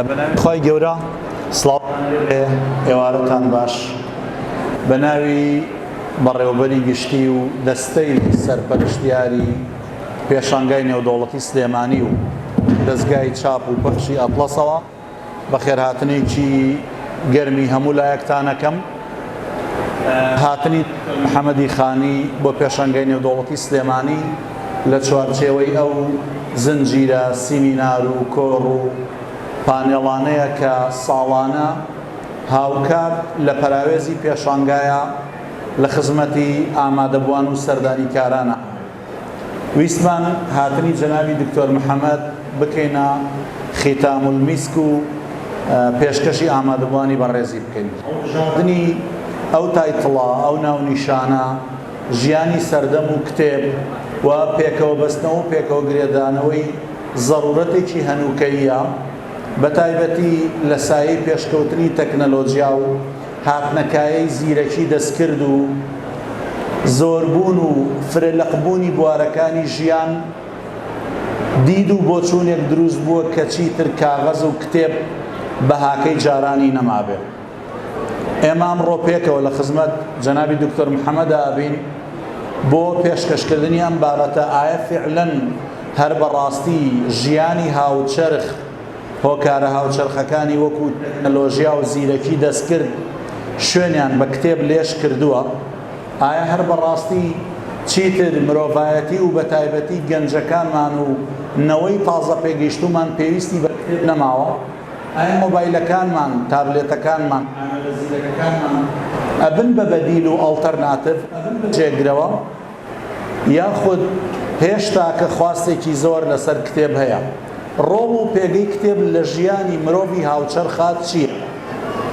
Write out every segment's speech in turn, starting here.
بەناوی خوای گەورە سڵاوتان لێبێ ئێوارەتان باش بەناوی بەڕێوەبەری گشتی و دەستەی سەرپەرشتیاری پێشانگای نێودەوڵەتی سلێمانی و دەستگای چاپ و پەخشی ئەتڵەسەوە بەخێرهاتنێکی گەرمی هەموو لایەکتانەکەم هاتنی حەمەدی خانی بۆ پێشەنگەی نێودەوڵەتی سلێمانی لە چوارچێوەی ئەو زنجیرە سیمینار و کۆڕ و پانێڵانەیە کە ساڵانە هاوکات لە پەراوێزی پێشانگایە لە خزمەتی ئامادەبووان و سەردانیکارانە. ویستمان هاتنی جەنابی دکتۆر محمد بکەینە ختام المیسک و پێشکەشی ئامادەبوانی بەڕێزی بکەین. هەڵبژاردنی ئەو تایتڵە، ئەو ناونیشانە، ژیانی سەردەم و کتێب و پێکەوەبەستنەوە و پێکەوە گرێدانەوەی زەڕوورەتێکی هەنووکەییە، بەتایبەتی لە سایەی پێشکەوتنی تەکنەلۆجیا و، هاتنەکایەی زیرەکی دەستکرد و زۆربوون و فرە لقبوونی بوارەکانی ژیان، دید و بۆچوونێک دروست بووە کە چیتر کاغەز و کتێب بەهاکەی جارانی نەمابێ. ئێمە ئەمڕۆ پێکەوە لە خزمەت جەنابی دکتۆر محەمەدا ئەبین بۆ پێشکەشکردنی ئەم بابەتە ئایە فیعلەن هەر بە ڕاستی ژیانی هاوچەرخ، هۆکارە هاوچەرخەکانی وەکوو تەکنەلۆژیا و زیرەکی دەستکرد شوێنیان بە کتێب لێژ کردووە، ئایا هەر بە ڕاستی چیتر مرۆڤایەتی و بەتایبەتی گەنجەکانمان و نەوەی تازە پێگەیشتوومان پێویستی بە کتێب نەماوە؟ ئایا مۆبایلەکانمان، تابلێتەکانمان، ئامێرە زیرەکەکانمان ئەبن بە بەدیل و ئەڵتەرناتڤ، ئەبن بە جێگرەوە؟ یاخود هێشتاکە خواستێکی زۆر لەسەر کتێب هەیە؟ ڕۆڵ و پێگەی کتێب لە ژیانی مرۆڤی هاوچەرخا چییە؟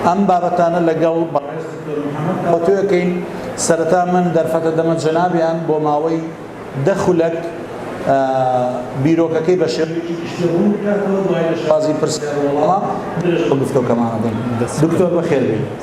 ئەم بابەتانە لەگەڵ بەڕێز دکتۆر محەمەد تاوتوێکەین، سەرەتا من دەرفەتە دەمە جەنابیان بۆ ماوەی دە خولەک بیرۆکەکەی بە شێوەیەکی گشتی ڕوون بکاتەوە، دوای لە شێوازی پرسیار و وەڵامە درێژە بە گفتۆکەمانە دەین. دکتۆر بەخێربێی.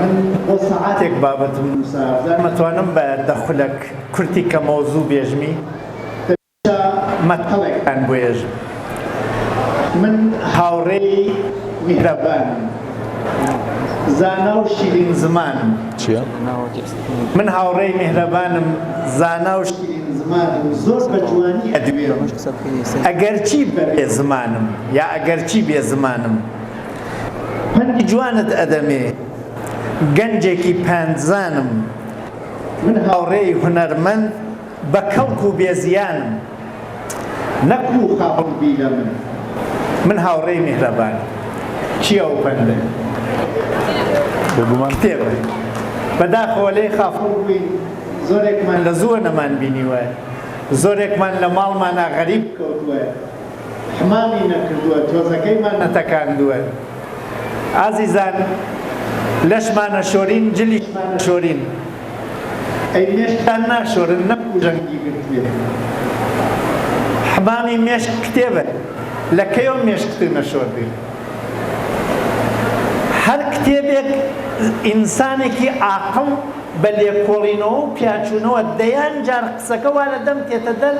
من بۆ سەعاتێک بابەتم نووسا زار مەتوانم بە دە خولەک کورتی کەمەوە زوو بێژمی. دەبێتە مەتەڵێکتان بۆ یێژم. من هاوڕێی میهرەبانم. زانا و شیرین زمانم. چیە؟ من هاوڕێی میهرەبانم، زانا و شیرین زمانم، زۆر بە جوانی ئەدوێم، ئەگەرچی بە بێ زمانم، یا ئەگەرچی بێ زمانم. من جوانت ئەدەمێ گەنجێکی پەندزانم من هاوڕێی هونەرمەند بە کەڵک و بێزیانم نەکو خاوەن بیلە من من هاوڕێی میهرەبان چیە و پەندە بێگومان کتێبە بەداخەوە لێ خافڵ بووین زۆرێکمان لە زووە نەمان بینیوە زۆرێکمان لە ماڵمانە غەریب کەوتووە حمامی نەکردووە تۆزەکەیمان نەتەکاندووە ئازیزان لەشمانە شۆرین جلیشمانە شۆرین ئەی مێشکتان ناشۆرن نەک پوژەنگی گرتبێ حمامی مێشک کتێبە لە کەیەوە مێشکت نەشۆردووی هەر کتێبێک ئینسانێکی عاقڵ بە لێکۆڵینەوە و پیاچوونەوە دەیان جار قسەکە وا لە دەم تێتە دەر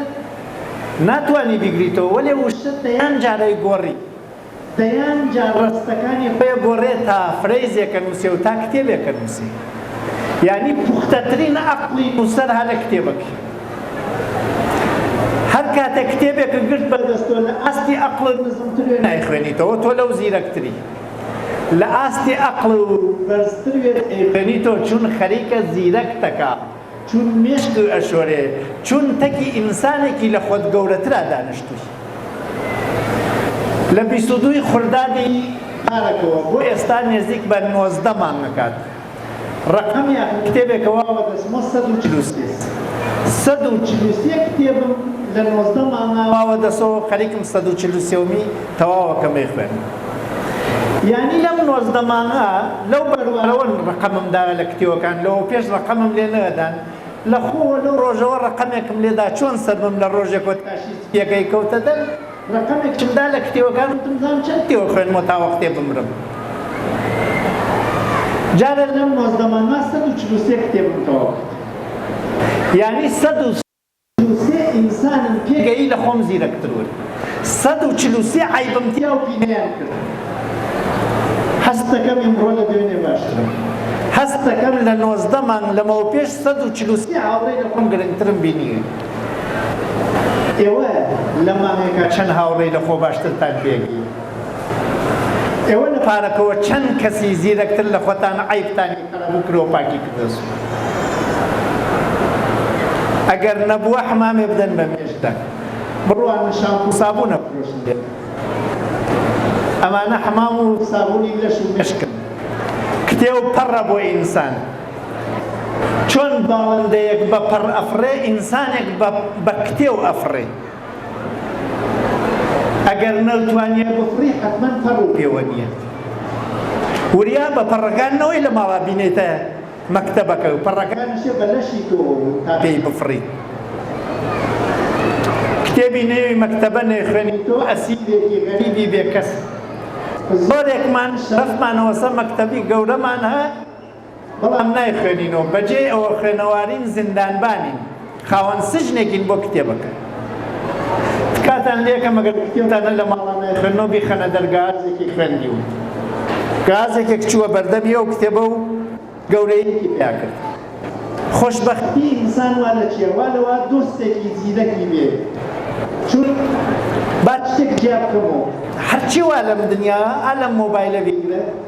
ناتوانی بیگریتەوە وەلێ وشە دەیان جارەی گۆڕی دەیان جار ڕەستەکانی خۆێ گۆڕێ تا فرەیزێکە نوسێ و تا کتێبێکە نوسێ یانی پوختەترین ئەقڵی نوسەر هە لە کتێبەک هەر کاتێک کتێبێک گرت بەردەستۆ لە ئاستی ئەقڵت نزمترێ نایخوێنیتەوە تۆ لەو زیرەکتری لە ئاستی ئەقڵ و بەرزتر وێت ئەیخوێنیتەوە چون خەریکە زیرەکتەکە چون مێشک ئەشۆرێ چون تەکی ئینسانێکی لە خۆت گەورەترا دانشتووی لە بیست و دووی خوردادی پارەکەوە بۆ ئێستا نێزیک بە نۆزدە مانگ ئەکات ڕەقەمیان کتێبێکەوە بە دەسمۆ سەد و چل و سێ سەد و چل و سێ کتێبم لە نۆزدە مانگاوە دەسۆ خەریکم سەد و چل و سێومی تەواو ئەکەم ئەیخوێنم یانی لەم نۆزدە مانگە لەو بەروارەوە ڕەقەمم دایە لە کتێوەکان لەوەوپێش ڕەقەمم لێ نەدان لە خۆوە لەو ڕۆژەوە ڕەقەمێکم لێدا چۆن سەربم لە ڕۆژێکۆ تاشی سپیەکەی کەوتە دەر ڕەقەمێکم دا لە کتێوەکان وتم زان چەند کتێوە خوێنمەوە تا وەختێ بمرم جارێ لەم نۆزدە مانگە سەد و چل و سێ کتێبم تەواو کرد یانی سەد و چل و سێ ئینسانم پێ گەیی لە خۆم زیرەک ترون سەد و چل و سێ عەیبم تیا و پینەیان کرد هەست دەکەم ئیمڕۆ لە دوێنێ باشترم هەست دەکەم لە نۆزدە مانگ لەمەو پێش سەد و چل و سێ هاوڕێی لە خۆم گرنگترم بینی ئێوە لە مانگێکا چەند هاوڕێی لە خۆ باشترتان پێ گەی؟ ئێوە لە پارەکەوە چەند کەسی زیرەکتر لە خۆتان عەیبتانی قەرەبوو کرۆ پاکی کردۆسن ئەگەر نەبووە حمامێ بدەن بە مێشتە بڕوانە شامپو سابونە فرۆشن بێت ئەمانە حمام و سابونی لەش و مشکن کتێ و پەڕە بۆ ئینسان چۆن باڵندەیەک بە پەڕ ئەفڕێ ئینسانێک بە کتێ و ئەفڕێ ئەگەر نەوتوانیە بخوری حەتمەن پەڕ و پێوە نیە وریا بە پەڕەکان نەوەی لە ماڵا بینێتە مەکتەبەکە و پەڕەکانیشە بە لەشی تۆ تا پێی بفڕی کتێبی نێوی مەکتەبە نێخوێنی تۆ ئەسیرێکی غەریبی بێکەس زۆرێکمان شەرەفمانەوەسە مەکتەبی گەورەمان هە بەڵام نایخوێنینەوە، بەجێی ئەوە خوێنەوارین زیندانبانین، خاوەن سجنێکین بۆ کتێبەکە. تکاتان لێکەم ئەگەر کتێبتانە لە ماڵا نایخوێننەوە بیخەنە دەر گازێکی خوێندیون. گازێکێک چووە بەردەمی ئەو کتێبە و گەورەیەکی پیا کرد. خۆشبەختی ئینسان وا لە چیە وا لەوە دۆستێکی زیرەکی بێ چون با شتێک جیا بکەمەوە. هەرچی وا لەم دنیایە ئا لەم مۆبایلە بیگرە.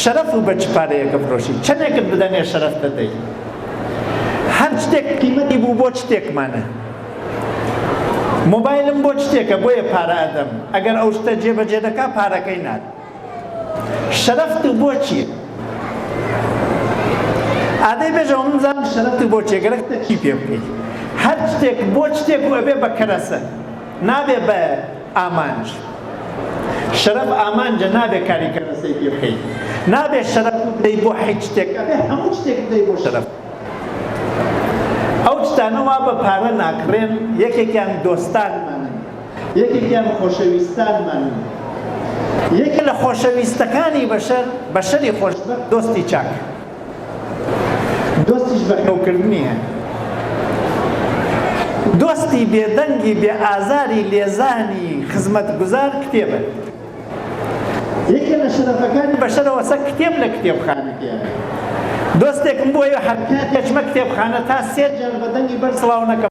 شەرەف و بە چ پارەیەک ئەفرۆشی؟ چەندێکت بدەمێ شەرەف دەدەی؟ هەر شتێک قیمەتی بوو بۆ چ شتێکمانە؟ مۆبایلم بۆ چ شتێکە بۆیە پارە ئەدەم ئەگەر ئەو شتە جێبەجێ دەکا پارەکەی نات شەرەفت و بۆچی؟ ئادەی بێژەوە من زان شەرەفت و بۆچێ گەرەکتە چی پێ بکەیت؟ هەر شتێک بۆ شتێک و ئەبێ بە کەرەسە نابێ بە ئامانج شەرەف ئامانجە نابێ کاری کەرەسەی پێ بکەیت نابێ شەرەف بدەی بۆ حیچ شتێک ئەبێ هەموو شتێک بدەی بۆ شەرەف ئەو شتانەوە بە پارە ناکڕێن یەکێکیان دۆستانمانن یەکێکیان خۆشەویستانمانن یەکە لە خۆشەویستەکانی بەشەر بەشەری خۆش دۆستی چاک دۆستیش بە حۆکردنی هەن. دۆستی بێ دەنگی بێ ئازاری لێزانی خزمەتگوزار کتێبە. یەکێ لە شەرەفەکانی بەشەرەوە سەگ کتێب لە کتێبخانە دێنێ. دۆستێکم بۆیە هەرکات دەچمە کتێبخانە تا سێ جار بە دەنگی بەرز سڵاو نەکەم.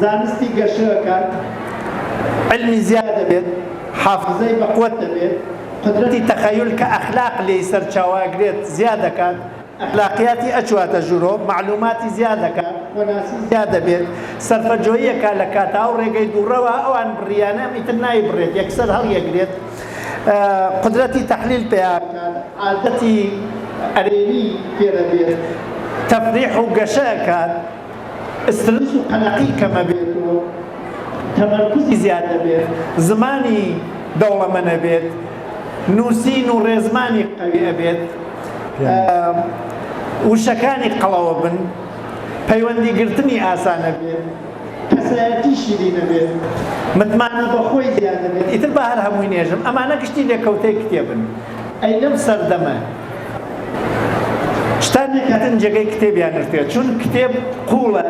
زانستی گەشە ئەکات، علمی زیاد ئەبێت، حافزەی بەقوەت دەبێت، قودرەتی تەخەیول کە ئەخلاق لێی سەرچاوە ئەگرێت زیاد ئەکات، ئەخلاقیاتی ئەچواتە ژورۆ، مەعلوماتی زیاد ئەکات، خۆناسی زیاد ئەبێت، سەرفەجۆیی ئەکات لە کاتا و رێگەی دوڕەوە ئەوان بڕیانە ئیتر نایبڕێت یەکسەر هەڵیەگرێت، قودرەتی تەحلیل پەیا ئەکات، عادەتی ئەرێنی فێر ئەبێت، تەفریح و گەشە ئەکات. سترس و قەلەقی کەمەبێت و تەمەرکوزی زیادەبێت، زمانی دەوڵەمەنەبێت، نوسین و ڕێزمانی قەوی ئەبێت، وشەکانی قەڵەوەبن، پەیوەندی گرتنی ئاسانەبێت، کەسایەتی شیرینەبێت، متمانە بەخۆی زیادەبێت، ئیتر با هەر هەمووی نێژم، ئەمانە گشتی لێکەوتەی کتێبن. ئەی لەم سەردەمە شتان نەکاتن جێگەی کتێبیان نوشتێت چون کتێب قوڵە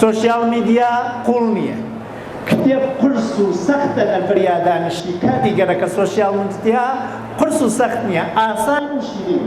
سوسیال میدیا قوڵ نییە کتێب قرس و سەختە لە فریادانشی کاتی گەرەکە سوسیال میدیا قرس و سەخت نییە ئاسان و شیرین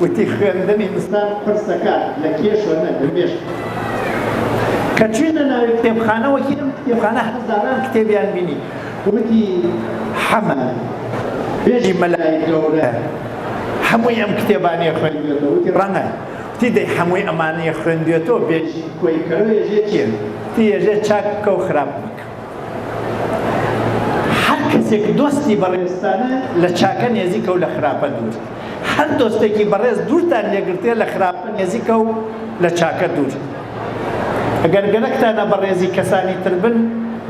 وتی خوێندنی زستان قورسەکە لە کێشە نە لە مێشک کە چوینە ناوی کتێبخانە وەکی ئەم کتێبخانە هەزاران کتێبیان بینی وتی حەمە بێژی مەلای گەورە هەمووی ئەم کتێبانیە خوێندێتەوە وتی ڕەنە تی دەی هەمووی ئەمانەیە خوێندێتەوە بێژی کۆی کەرۆ یەژێ چێن تی یەژێ چاک بکە و خراپ بکە هەر کەسێک دۆستی بەڕێزتانە لە چاکە نێزیکە و لە خراپە دوور هەر دۆستێکی بەڕێز دوورتان لێگرتێ لە خراپە نێزیکە و لە چاکە دوور ئەگەر گەرەکتانە بەڕێزی کەسانی تر بن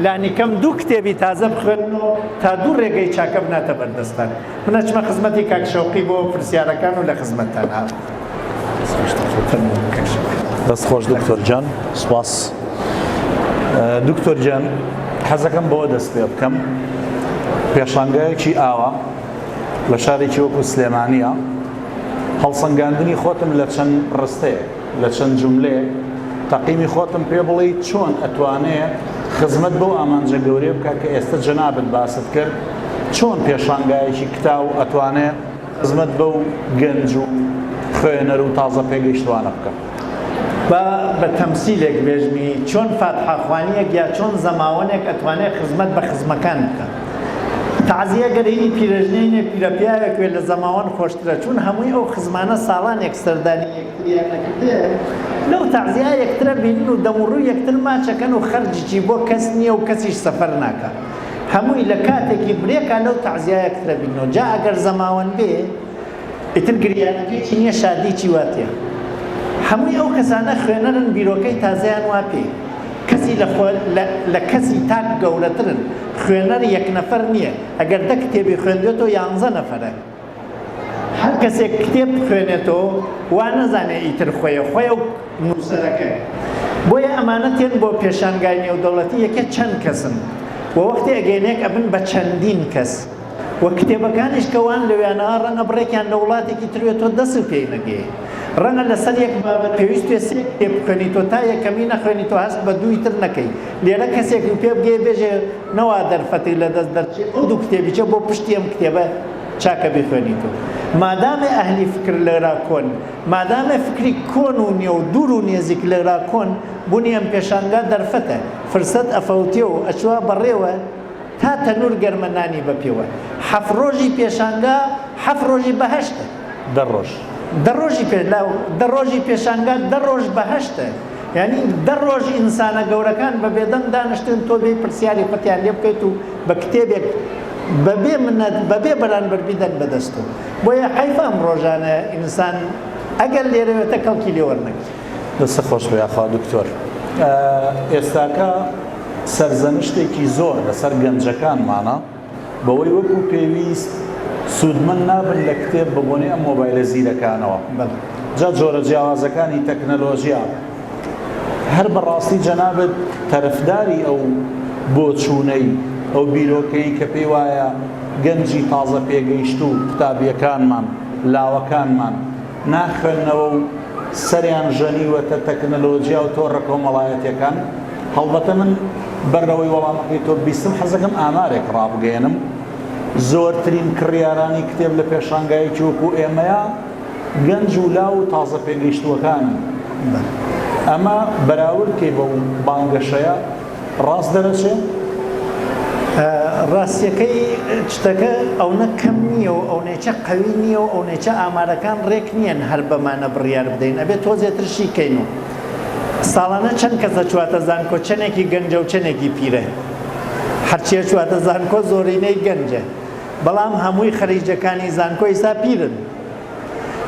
لانیکەم دوو کتێبی تازە بخوێنن و تا دوو ڕێگەی چاکە بناتە بەردەستان من ئەچمە خزمەتی کاک شەوقی بۆ پرسیارەکان و لە خزمەتتان هات دەست خۆش دکتۆر جان سپاس دکتۆر جان حەزەکەم بەوە دەست پێ بکەم پێشانگایەکی ئاوا لە شارێکی وەکو سلێمانە هەڵسەنگاندنی خۆتم لە چەند ڕستەیە لە چەند جملێ تەقیمی خۆتم پێ بڵێ چۆن ئەتوانەیە خزمەت بۆ ئامانجە گەورەیە بکە کە ئێستا جەنابەت باست کرد چۆن پێشانگایەکی کتاو ئەتوانێت خزمەت بەو گەنج و خوێنەر و تازە پێگەیشتوانە بکەم. با بە تەمسیلێک بێژمی چۆن فاتحە خوانیەک یا چۆن زەماوەنێک ئەتوانێ خزمەت بە خزمەکان بکا. تەعزیە گەر هینی پیرەژنینێک پیرەپیاوێک وێ لە زەماوەن خۆشترە چوون هەمووی ئەو خزمانە ساڵانێک سەردانی یەکتریان نەکردێ لەو تەعزیە یەکترە بینن و دەموڕووی یەکتر ماچەکەن و خەرجیی بۆ کەس نییە و کەسیش سەفەر ناکا. هەمووی لە کاتێکی برێکا لەو تەعزیایە کترە بیرنەوە جا ئەگەر زەماوەند بێ ئیتر گریانەکەیی نییە شادیی وا تێ هەمووی ئەو کەسانە خوێنەرن بیرۆکەی تازەیان وا پێ کەسی لە خۆ لە کەسی تاک گەورەترن خوێنەر یەک نەفەر نییە ئەگەر دە کتێبی خوێندوێتەوە یانزە نەفەرە. هەر کەسێک کتێب بخوێنێتەوە وا نەزانێ ئیتر خۆیە خۆیە و نووسەرەکەی بۆیە ئەمانە تێن بۆ پێشانگای نێودەوڵەتی یەکە چەند کەسن و وەختی ئەگەینێک ئەبن بە چەندین کەس و کتێبەکانیش کە وان لەوێنەوە ڕەنگە بڕێکیان لە وڵاتێکی تروێت تۆ دەست و پێی نەگەی ڕەنگە لەسەر یەک بابەت پێویست پێ سێ کتێب بخوێنیتەوە تا یەکەمی نەخوێنیتەوە هەست بە دووی تر نەکەی لێرە کەسێک پێ بگەی بێژێ نەوا دەرفەتێک لەدەست دەرچێ ئەو دوو کتێبیچە بۆ پشتی ئەم کتێبە چاکە بیخوێنیتەوە مادامێ ئەهلی فکر لەرا کۆن مادامێ فکری کۆن و نیە و دوور و نێزیک لەرا کۆن بوونی ئەم پێشانگا دەرفەتە فرسەت ئەفەوتێ و ئەچوا بەڕێوە تا تەنور گەرمە نانی بەپێوە حەفت ڕۆژی پێشانگا حەفت ڕۆژی بەهەشتە. دە ڕۆژ دە ڕۆژی پێلاو دە ڕۆژی پێشانگا دە ڕۆژ بەهەشتە یعنی دە ڕۆژ ئینسانە گەورەکان بە بێدەنگ دانیشتن تۆ بێ پرسیاری قوتیان لێ بکەیت و بە کتێبێک بەبێ منەت بەبێ بەرانبەر بیدەن بەدەست و بۆیە حیفە ئەم ڕۆژانە ئینسان ئەگەر لێرەوێتە کەڵکی لێ وەرنەگرێت دەستە خۆش بێ یاخوا دکتۆر ئێستاکە سەرزەنشتێکی زۆر لەسەر گەنجەکانمانە بەوەی وەکو پێویست سوودمەند نابن لە کتێب بەبۆنەی ئەم مۆبایلە زیرەکانەوە. جا جۆرە جیاوازەکانی تەکنەلۆژیا. هەر بەڕاستی جەنابت تەرفداری ئەو بۆچوونەی، ئەو بیرۆکەی کە پێی وایە گەنجی تازە پێگەیشتوو قوتابیەکانمان، لاوەکانمان، نا خوێندنەوە و سەریان ژەنیوەتە تەکنەلۆژیا و تۆڕە کۆمەڵایەتیەکان؟ هەڵبەتە من بەر لەوەی وەڵامەکەی تۆ ببیستم حەزەکەم ئامارێک ڕابگەیەنم زۆرترین کڕیارانی کتێب لە پێشانگایەکی وەکو ئێمەیە گەنج و لاو و تازە پێگەیشتووەکانن ئەمە بەراوردکەی بەو بانگەشەیە ڕاست دەرەچێ؟ ڕاستیەکەی شتەکە ئەونە کەم نییە و ئەونێچە قەوی نییە و ئەونێچە ئامارەکان ڕێک نییەن هەر بەمانە بڕیار بدەین ئەبێت تۆزێترشی کەین و ساڵانە چەند کەس ئەچواتە زانکۆ چەنێکی گەنجە و چەنێکی پیرە هەرچی ئەچواتە زانکۆ زۆرینەی گەنجە بەڵام هەمووی خەریجەکانی زانکۆ ئیستا پیرن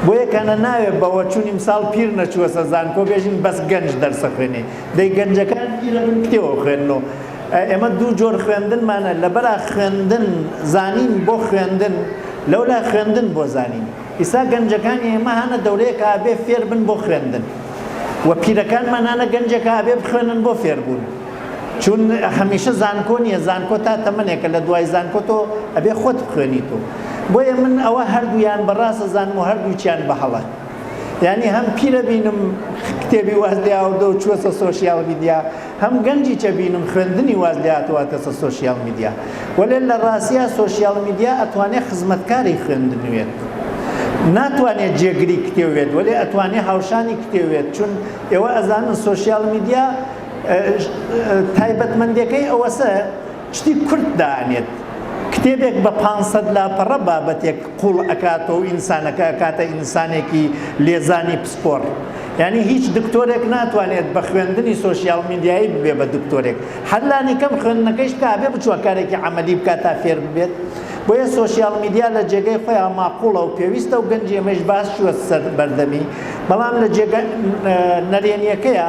بۆیە کەنە ناوێ بەوە چون ئیمساڵ پیر نەچووەسە زانکۆ بێژین بەس گەنج دەرسە خوێنێ دەی گەنجەکان پیرە بن کتێوە خوێنن و ئێمە دوو جۆر خوێندنمانە لەبەرا خوێندن زانین بۆ خوێندن لەولا خوێندن بۆ زانین ئیستا گەنجەکان ئێمە هانە دەورەیەکە ئەبێ فێر بن بۆ خوێندن و پیرەکانمان هانە گەنجێکە ئەبێ بخوێنن بۆ فێر بوون چون هەمیشە زانکۆ نیە زانکۆ تا تەمەنێکە لە دوای زانکۆ تۆ ئەبێ خۆت بخوێنیت و بۆیە من ئەوە هەردوویان بەڕاست ئەزانم و هەردووکیان بە هەڵە یانی هەم پیرە بینم کتێبی واز لێ ئاوردوە و چووەسە سۆشیال میدیا هەم گەنجی چەبینم خوێندنی واز لێ هاتوە ئەکەسە سۆشیال میدیا وەلێ لە ڕاستیا سۆشیال میدیا ئەتوانێ خزمەتکاری خوێندنوێت ناتوانێت جێگری کتێو وێت وەلێ ئەتوانێ هاوشانی کتێو وێت چون ئێوە ئەزانن سۆشیال میدیا تایبەتمەندەکەی ئەوەسە شتی کورت دانێت کتێبێک بە پانج سەد لاپەڕە بابەتێک قوڵ ئەکاتەوە و ئینسانەکە ئەکاتە ئینسانێکی لێزانی پسپۆڕ یانی هیچ دکتۆرێک ناتوانێت بە خوێندنی سۆشیال میدیایی ببێ بە دکتۆرێک هەر لانی کەم خوێندنەکەیش بکە ئەبێ بچووە کارێکی عەمەلی بکات تا فێر ببێت بۆیە سۆشیال میدیا لە جێگەی خۆیان ماقوڵە و پێویستە و گەنجی ئەمەش باس شووە سەر بەردەمی بەڵام لە جێگە نەرێنیەکەیە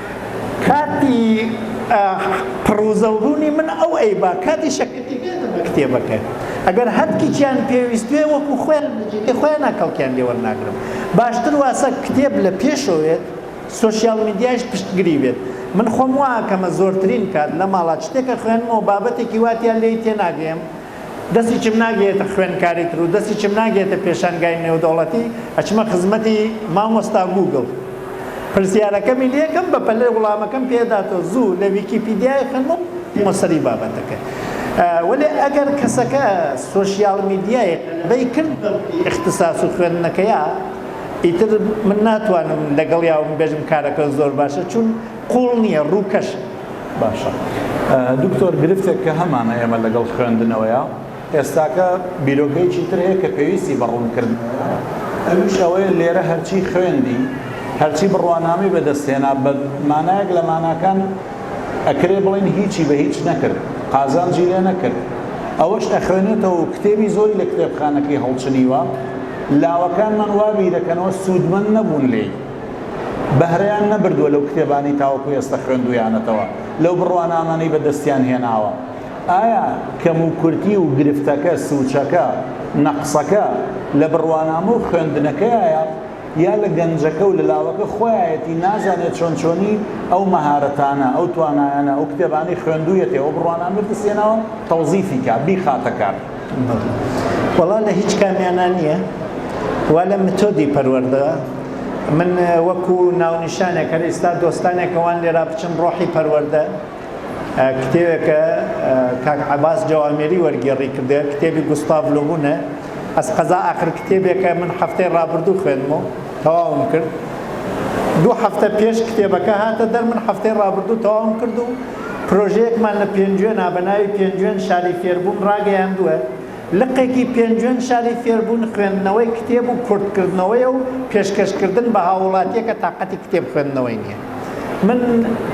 کاتی پڕوزەو ڕوونی من ئەو ئەیبا کاتی شەکەتی بێنە بە کتێبەکە ئەگەر هەتکیکیان پێویستوێ وەکو خۆیان لەجێگەی خۆیانا کەڵکیان لێ وەرناگرم باشتر واسە کتێب لە پێشەوەێت سۆشیال میدیایش پشتگری بێت من خۆم واکەمە زۆرترین کات لە ماڵا چتێکە خوێنمەوە بابەتێکی واتیان لێی تێناگەم دەستیچم ناگەیەتە خوێندکاری تر و دەستیچم ناگەیەتە پێشانگای نێودەوڵەتی، ئەچمە خزمەتی مامۆستا گووگڵ. پرسیارەکەمی لێکەم بەپەلە وڵامەکەم پێداتەوە، زوو لە ویکیپیدیای خەنوق بمە سەری بابەتەکە. وەلێ ئەگەر کەسەکە سۆشیال میدیای غەلەبەی کرد بە ملی ئیختساس و خوێندنەکەیا، ئیتر من ناتوانم لەگەڵیا ومبێژم کارەکە زۆر باشە، چون قوڵ نیە ڕووکەش باشە. دکتۆر گرفتێک کە هەمانە ئێمە لەگەڵ خوێندنەوەیە ئێستاکە بیرۆکەیەکی تر هەیە کە پێویستی بە ڕوونکردنەوەیە ئەویش ئەوەیە لێرە هەرچی خوێندی هەرچی بڕوانامەی بەدەست هێنا بە مانایەک لە ماناکان ئەکرێ بڵێین هیچی بە هیچ نەکرد قازانجی لێ نەکرد ئەوەش ئەخوێنێتەوە و کتێبی زۆری لە کتێبخانەکەی هەڵچنیوە لاوەکانمان وا بیرەکەنەوە سوودمەند نەبوون لێی. بەهرەیان نەبردووە لەو کتێبانەی تاوەکو ئێستە خوێندوویانەتەوە، لەو بڕوانامانەی بەدەستیان هێناوە. ئایا کەموکورتی و گرفتەکە، سووچەکە، نەقسەکە لە بڕوانامە و خوێندنەکەیایە یا لە گەنجەکە و لە لاوەکە خۆیایەتی نازانێت چۆن چۆنی ئەو مەهارەتانە، ئەو توانایانە، ئەو کتێبانەی خوێندوویەتی، ئەو بڕوانامەی بەدەستیهێناوە تەوزیفی کا، بیخاتە کار؟ بەڵێ وەڵا لە هیچ کامیانا نیە وا لە متۆدی پەروەردە من وەکو ناونیشانێک هەر ئێستا دۆستانێک ئەوان لێرا بچن ڕۆحی پەروەردە کتێوێکە کاک عباس جوامێری وەرگێڕی کردێ کتێبی گوستاڤ لۆبوونە ئەس قەزا ئاخر کتێبێکە من هەفتەی ڕابردوو خوێنمەوە تەواوم کرد دوو هەفتە پێش کتێبەکە هاتە دەر من هەفتەی ڕابردوو تەواوم کرد و پرۆژەیەکمان لە پێنجوێنا بە ناوی پێنجوێن شاری فێربوون ڕاگەیاندووە، لقێکی پێنجوێن شاری فێربوون خوێندنەوەی کتێب و کورتکردنەوەیە و پێشکەشکردن بە هاووڵاتییەکە تاقەتی کتێب خوێندنەوەی نییە. من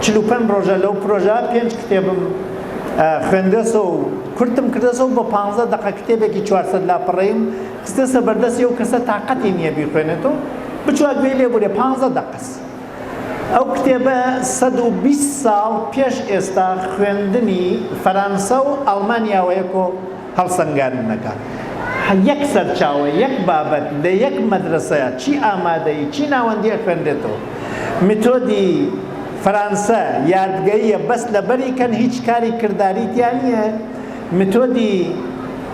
چل و پەنج ڕۆژە لەو پرۆژە پێنج کتێبم خوێندۆسەوە و کورتم کردۆسەوە و بە پانزە دەقە کتێبێکی چوار سەد لاپەڕەییم خستۆسە بەردەستی ئەو کەسە تاقەتی نییە بیخوێنێت و بچووک بێی لێبوورێ پانزە دەقەس. ئەو کتێبە سەد و بیست ساڵ پێش ئێستا خوێندنی فەرانسە و ئەڵمانیاوەیەکۆ هەڵسەنگاندنەکە یەک سەرچاوە یەک بابەت لە یەک مەدرەسە چی ئامادەیی چی ناوەندی ئەخوێنرێتەوە میتۆدی فەرانسە یادگەییە بەس لەبەری کەن هیچ کاری کرداری تیا نیە میتۆدی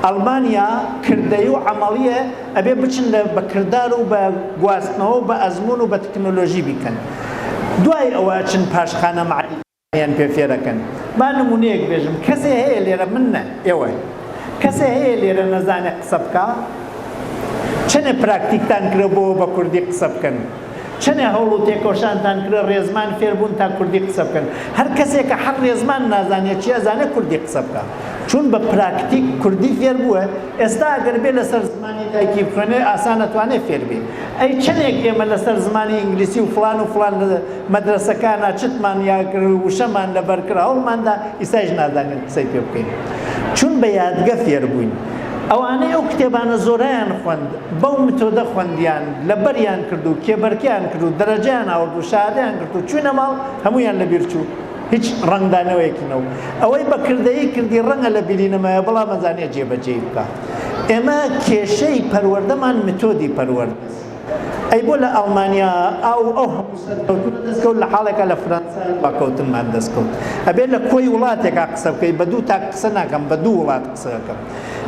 ئەڵمانیا کردەی و عەمەڵیە ئەبێ بچن لە بە کردار و بە گواستنەوە و بە ئەزموون و بە تەکنۆلۆژی بیکەن دوای ئەوە ئەچن پاشخانە مەعریفییەکانیان پێ فێر ئەکەن با نموونەیەک بێژم کەسێ هەیە لێرە من نە ئێوە کەسێ هەیە لێرە نەزانێ قسە بکا چەنێ پراکتیکتان کرێ بۆ بە کوردی قسە بکەن چەنێ هەوڵ و تێکۆشانتان کرێ ڕێزمان فێربوون تا کوردی قسە بکەن هەر کەسێکە حەق ڕێزمان نازانێت چی ئەزانێت کوردی قسە بکە چون بە پراکتیک کوردی فێر بووە ئێستا ئەگەر بێ لەسەر زمانی دایکی بخوێنێ ئاسان ئەتوانێ فێر بێ ئەی چەنێک ئێمە لەسەر زمانی ئینگلیسی و فڵان و فڵان مەدرەسەکانە چتمان یا وشەمان لەبەر کرا هەوڵماندا ئیسایش نازانین قسەی پێ بکەین چون بە یادگە فێر بووین ئەوانەی ئەو کتێبانە زۆرەیان خوند بەو متۆدە خوندیان لەبەریان کرد و کێبەرکیان کرد و دەرەجەیان ئاورد و شادیان کرد و چوینە ماڵ هەمویان لەبیر چوو هیچ ڕەنگدانەوەیەکی نەو ئەوەی بە کردەیی کردی ڕەنگە لە بیری نەمایە بەڵام ئەزانێ جێبەجێی بکە ئێمە کێشەی پەروەردەمان متۆدی پەروەرد ئەی بۆ لە ئەڵمانیا ئاو ئەو هەموو سەرکەوتن دەستکەوت لە حاڵێکە لە فرەنسا باکەوتنمان دەستکەوت ئەبێت لە کۆی وڵاتێکا قسە بکەیت بە دوو تاک قسە ناکەم بە دوو وڵات قسەکەم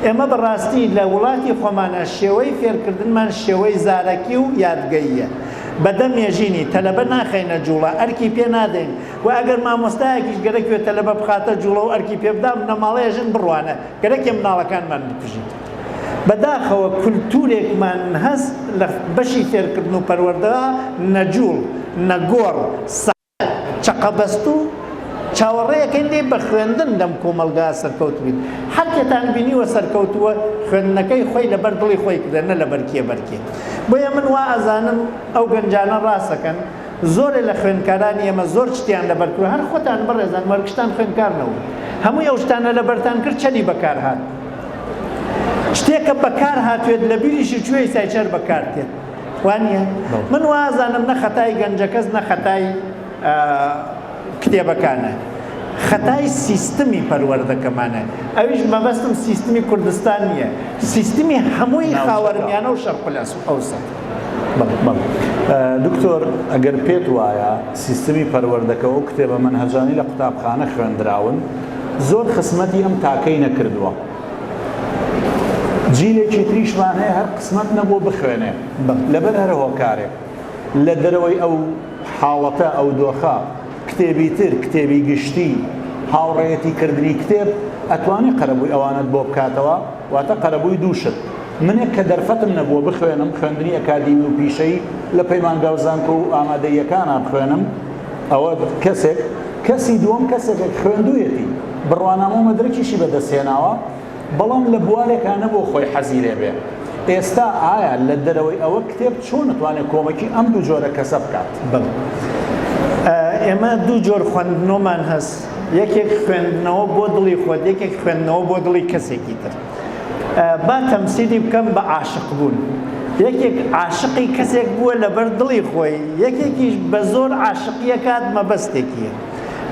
ئێمە بەڕاستی لە وڵاتی خۆمانە شێوەی فێرکردنمان شێوەی زارەکی و یادگەیە بە دە مێژینی تەلەبە ناخەینە جووڵە، ئەرکی پێ نادەین و ئەگەر مامۆستایەکیش گەرەکیوە تەلەبە بخاتە جووڵە و ئەرکی پێ بدا، بنەماڵەیە ژن بڕوانە، گەرەکیە منداڵەکانمان بکوژین. بە داخەوە کولتوورێکمان هەس لە بەشی فێرکردن و پەروەردەدا نە جووڵ، نە گۆڕ، سە. چەقەبەستوو چاوەڕێیەکەین دەی بە خوێندن لەم کۆمەڵگا سەرکەوتبین هەرکێتان بینیوە سەرکەوتووە خوێندنەکەی خۆی لەبەر دڵی خۆی کردە نە لەبەر کێ بەرکێ بۆیە من وا ئەزانم ئەو گەنجانە ڕاستەکەن زۆرێ لە خوێندکارانی ئێمە زۆر شتیان لەبەرکرد هەر خۆتان بەڕێزان وەرگشتان خوێندکارنەوە هەمووی ئەو شتانە لەبەرتان کرد چەنی بەکار هات شتێکە بەکار هاتوێت لە بیریشی چوێی سایچەر بەکارتێت وانیە؟ من وازانم نە خەتای گەنجەکەس نە خەتای کتێبەکانە خەتای سیستمی پەروەردەکەمانە ئەویش مەبەستم سیستمی کوردستان نییە سیستمی هەمووی خاوەرمیانە و شەرقلەس و ئەوسە دکتۆر ئەگەر پێت وایە سیستمی پەروەردەکە و کتێبە منهجانی لە قوتابخانە خوێندراون زۆر خسمەتی ئەم تاکەی نەکردووە جیلێکی تریشمان هەیە هەر قسمەت نەبوو بخوێنێ لەبەر هەر هۆکارێک لە دەرەوەی ئەو حاڵەتە ئەو دۆخە کتێبی تر کتێبی گشتی هاوڕێتی کردنی کتێب ئەتوانی قەرەبووی ئەوانت بۆ بکاتەوە واتە قەرەبووی دووشت منێک کە دەرفەتم نەبووە بخوێنم خوێندنی ئەکادیمی و پیشەی لە پەیمانگا و زانکۆ و ئامادەیەکانە بخوێنم ئەوە کەسێک کەسی دووەم کەسێکێک خوێندوویەتی بڕوانامە و مەدرەکیشی بەدەستهێناوە بەڵام لە بوارێکا نەبوو خۆی حەزی لێ بێ ئێستا ئایا لە دەرەوەی ئەوە کتێب چۆن نتوانێت کۆمەکی ئەم دوو جۆرە کەسە بکات بم ئێمە دوو جۆر خوێندنەوەمان هەست یەکێک خوێندنەوە بۆ دڵی خۆت یەکێک خوێندنەوە بۆ دڵی کەسێکی تر با تەمسیلی بکەم بە عاشق بوون یەکێک عاشقی کەسێک بووە لەبەر دڵی خۆی یەکێکیش بە زۆر عاشقیە کات مەبەستێکیە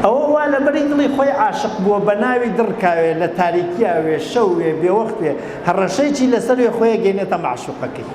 ئەوە وا لەبەری دڵی خۆی عاشق بووە بە ناوی دڕکاوێ لە تاریکیاوێ شەوێ بێوەختێ هەڕەشەیی لەسەروێ خۆیە گەینێتە مەعشوقەکەی